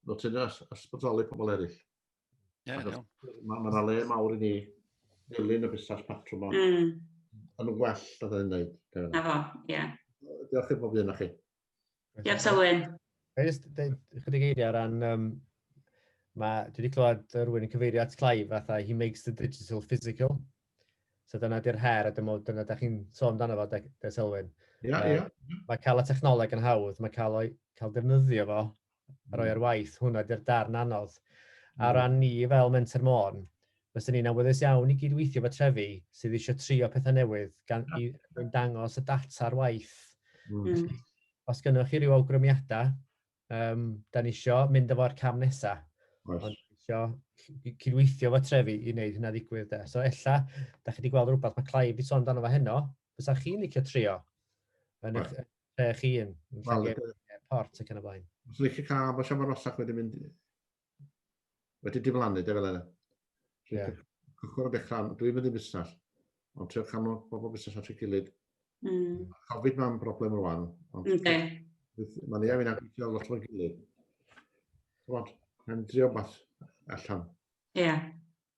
fel ti'n ysbrydoli pobl eraill. Ie, yeah, Mae yna le mawr i ni ddilyn y busnes patrwm o. Mm. Yn well, da dda'n neud. Na fo, ie. Yeah. Diolch i bob un o'ch chi. Diolch Selwyn. Ga i jyst dweud ychydig eiriau ar ran, um, mae, dwi wedi clywed rhywun yn cyfeirio at Clive fatha he makes the digital physical. So dyna di'r her, a dyma, dyna da chi'n sôn amdano fo, da, da Selwyn. Ie, yeah, ie. Yeah. Mae cael y technoleg yn hawdd, mae cael, o'i, cael defnyddio fo a roi ar waith, hwnna ydy'r darn anodd. A o ran ni fel Menter Môn, fyswn ni'n awyddus iawn i gyd-weithio efo trefi sydd eisiau trio pethau newydd gan i dangos y data ar waith. Mm. Os gynnwch chi rhyw awgrymiadau, um, da ni isio mynd efo'r cam nesaf. Right. Ond isio cydweithio fo trefi i wneud hynna ddigwydd. De. So ella, da chi wedi gweld rhywbeth mae Clive wedi sôn amdano fo heno, fysa chi'n licio trio yn eich right. Lle chi yn? Wel, port ac yn y blaen. Os ydych chi'n cael bod siafod rosach wedi mynd... wedi diflannu, de fel yna. Yeah. Cychwyn o dechrau, dwi'n mynd i busnes, ond trio canol pobl busnes at ei gilydd. Mm. Covid mae'n broblem rwan. Ond okay. Mae'n ei fi'n agwysio lot o'r gilydd. Rwan, mae'n drio bas allan. Ie. Yeah.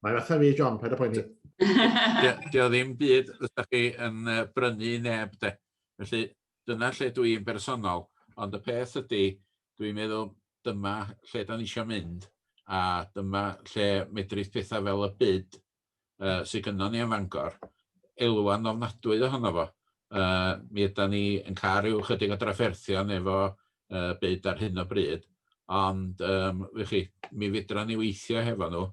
Mae'n fatha fi, John, paid â poeni. Dio ddim byd ydych chi yn brynu neb de. Felly dyna lle dwi i'n bersonol. Ond y peth ydy, dwi'n meddwl dyma lle da ni eisiau mynd a dyma lle medrith pethau fel y byd uh, sydd gynnon ni yn Fangor elwa'n ofnadwy ohono fo. Uh, mi yda ni yn cael rhyw chydig o drafferthion efo yy byd ar hyn o bryd, ond yym w'ch chi, mi fedran ni weithio hefo nhw,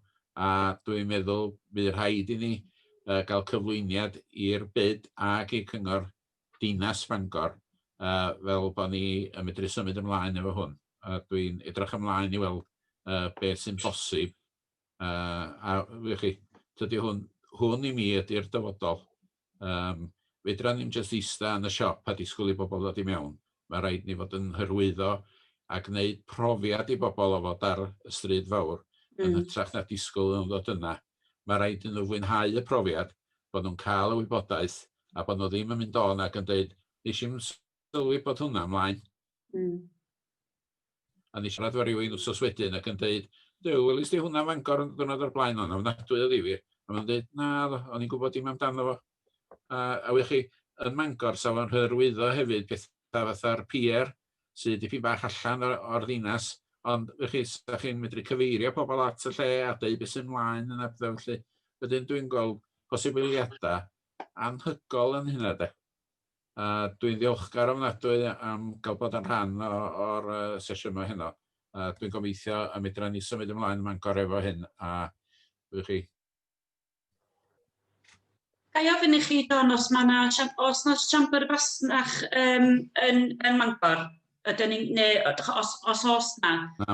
a dwi'n meddwl bu rhaid i ni yy ga'l cyflwyniad i'r byd ag i Cyngor Dinas Bangor yy fel bo' ni yn medru symud ymlaen efo hwn, a dwi'n edrych ymlaen i weld yy beth sy'n bosib. Uh, a wych chi, tydi hwn, hwn i mi ydy'r dyfodol. Um, fedra ni'n just eista yn y siop a disgwyl i bobl ddod i mewn. Mae rhaid ni fod yn hyrwyddo a gwneud profiad i bobl o fod ar y stryd fawr mm. yn hytrach na disgwyl yn ddod yna. Mae rhaid i nhw fwynhau y profiad, bod nhw'n cael y wybodaeth a bod nhw ddim yn mynd o'n ac yn dweud, nes i'n sylwi bod hwnna ymlaen. Mm. O'n i'n siarad efo rywun wsos wedyn ac yn deud, Duw, welis di hwnna Fangor yn ddiwrnod o'r blaen, o'n ofnadwy o ddifyr. A maen nhw'n deud, na, o'n i'n gwybod dim amdano fo. A, a wych chi, yn Mangor, sa fo'n hyrwyddo hefyd pethau fatha'r pier, sydd dipyn bach allan o'r ddinas, ond wych chi, sa chi'n medru cyfeirio pobl at y lle a deud beth sy'n mlaen yn a felly. Wedyn dwi'n gweld posibiliadau anhygol yn hynna de. A dwi'n ddiolchgar ofnadwy am gael bod yn rhan o'r sesiwn yma heno. A dwi'n gobeithio y medra ni symud ymlaen ym Mangor efo hyn. A ydych chi? Ga i ofyn i chi, Don, os mae na, os na siambr fasnach um, yn, yn Mangor? Ydyn ni, neu os, os os na,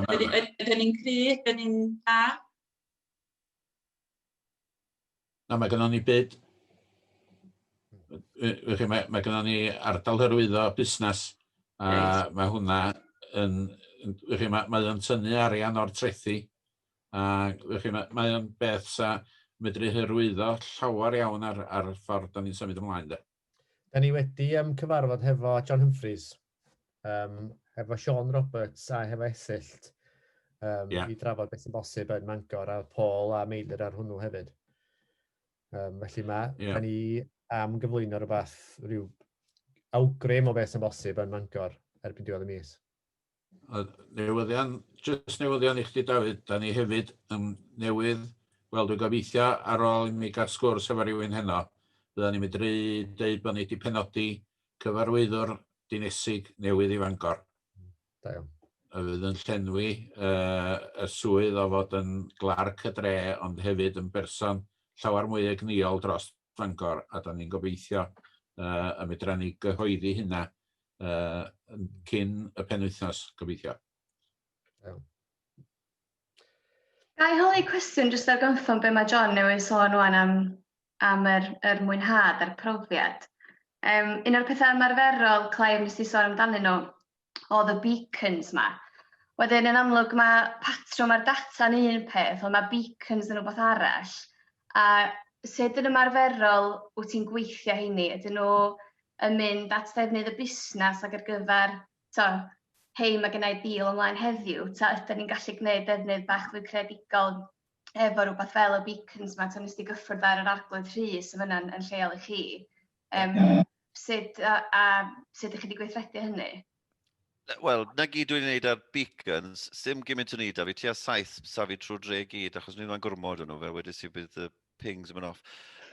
ydyn ni'n cry, ydyn ni'n da? Na, mae gennon ni byd... Felly mae mae gennon ni ardal hyrwyddo busnes a right. mae hwnna yn... Felly mae, mae o'n tynnu arian o'r trethi a felly mae, mae o'n beth sa medru hyrwyddo llawer iawn ar, ar ffordd da ni'n symud ymlaen. De. Da ni wedi um, cyfarfod hefo John Humphreys, um, hefo Sean Roberts a hefo Esyllt um, yeah. i drafod beth sy'n bosib yn Mangor a Paul a Meilir ar hwnnw hefyd. Um, felly mae yeah. da ni am gyflwyno rhywbeth, rhyw awgrym o beth sy'n bosib yn Mangor erbyn diwedd y mis. A newyddion, jyst newyddion i chdi Dafydd, da ni hefyd yn newydd, wel dwi'n gobeithio ar ôl i mi gael sgwrs efo rhywun heno, fydda ni'n medru deud bod ni wedi penodi cyfarwyddwr dinesig newydd i Fangor. Da iawn. A fydd yn llenwi uh, y swydd o fod yn glarc y dre, ond hefyd yn berson llawer mwy egnïol dros Fangor, a da ni'n gobeithio uh, y medra ni gyhoeddi hynna uh, cyn y penwythnos, gobeithio. Iawn. Gai holi cwestiwn jyst ar gynffon be mae John newydd sôn o'n am, am yr, yr mwynhad a'r profiad. Um, un o'r pethau ymarferol, Clive, nes i sôn amdanyn nhw, oedd y beacons ma. Wedyn, yn amlwg, mae patrwm ar data'n un peth, ond mae beacons yn rhywbeth arall. A sut yn ymarferol wyt ti'n gweithio heini? Ydyn nhw yn mynd at ddefnydd y busnes ac ar gyfer, so, hei, mae gennau bil ymlaen heddiw, ta ydyn ni'n gallu gwneud defnydd bach fwy creadigol efo rhywbeth fel y beacons yma, ta nes ti gyffwrdd ar yr arglwydd rhys yn fyna yn lleol i chi? Um, Sut, a, a sut ydych chi wedi gweithredu hynny? Wel, na gyd dwi'n gwneud ar beacons, sim gymaint o'n i da, fi tua saith safi trwy dre gyd, achos ni'n rhan gormod o'n nhw, fel wedi si bydd y pings yn mynd off.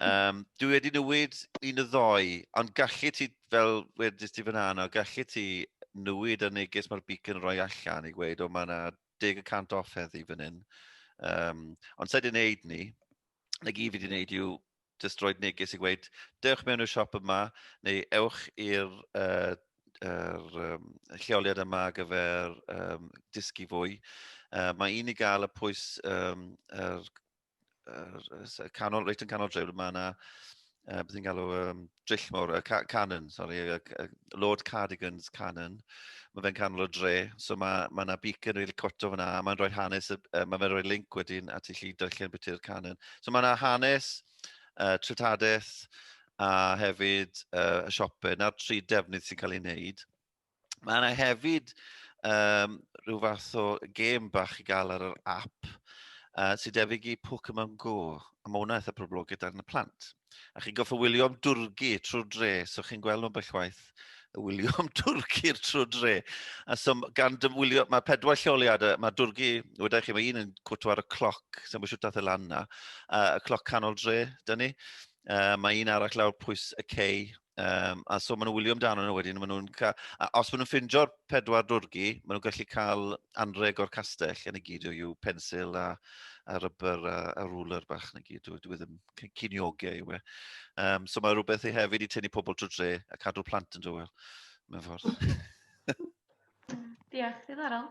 Um, dwi wedi newid un o ddoi, ond gallu ti, fel wedi ti fyna yna, gallu ti newid y neges mae'r beacon roi allan i gweud, o mae yna deg y cant off heddi fan hyn. Um, ond sa'i wedi gwneud ni, na gyd fi wedi gwneud yw jyst rhoi neges i gweud, dewch mewn i'r siop yma, neu ewch i'r uh, er, um, lleoliad yma ar gyfer um, dysgu fwy. Uh, mae un i gael y pwys um, er, er, er, canol, reit yn canol drefn, mae yna, uh, beth i'n galw, um, dryll mawr, y ca Canon, sori, y, y Lord Cardigan's Canon. Mae fe'n canol o dre, so mae ma yna beacon rili really cwt o fyna, a mae'n rhoi hanes, uh, mae fe'n rhoi link wedyn at i chi darllen beth yw'r Canon. So mae yna hanes, uh, tritadaeth, a hefyd uh, y siopau. Na'r tri defnydd sy'n cael ei wneud. Mae yna hefyd um, rhyw fath o gêm bach i gael ar yr app uh, sy'n debyg i Pokemon Go. A mae hwnna eitha poblogaeth ar y plant. A chi'n goffa wylio am dwrgu trwy'r dre, so chi'n gweld nhw'n bellwaith y wylio am dwrgu'r trwy dre. A so gan dymwylio, mae pedwar lleoliadau, mae dwrgu, wedi chi, mae un yn cwtw ar y cloc, sy'n mwysio dath y lan na, uh, y cloc canol dre, dyn ni. Uh, mae un arall lawr pwys y cei, Um, a so maen nhw'n wylio amdano nhw wedyn, maen nhw'n cael... A os maen nhw'n ffindio'r pedwar dwrgi, maen nhw'n gallu cael anreg o'r castell, yn y gyd yw pensil a, a rybr a, a rwler bach yn y gyd, dwi ddim cyniogau yw e. Um, so mae rhywbeth i hefyd i tynnu pobl trwy dre a cadw plant yn dywel, mewn ffordd. Diolch, ddiddorol.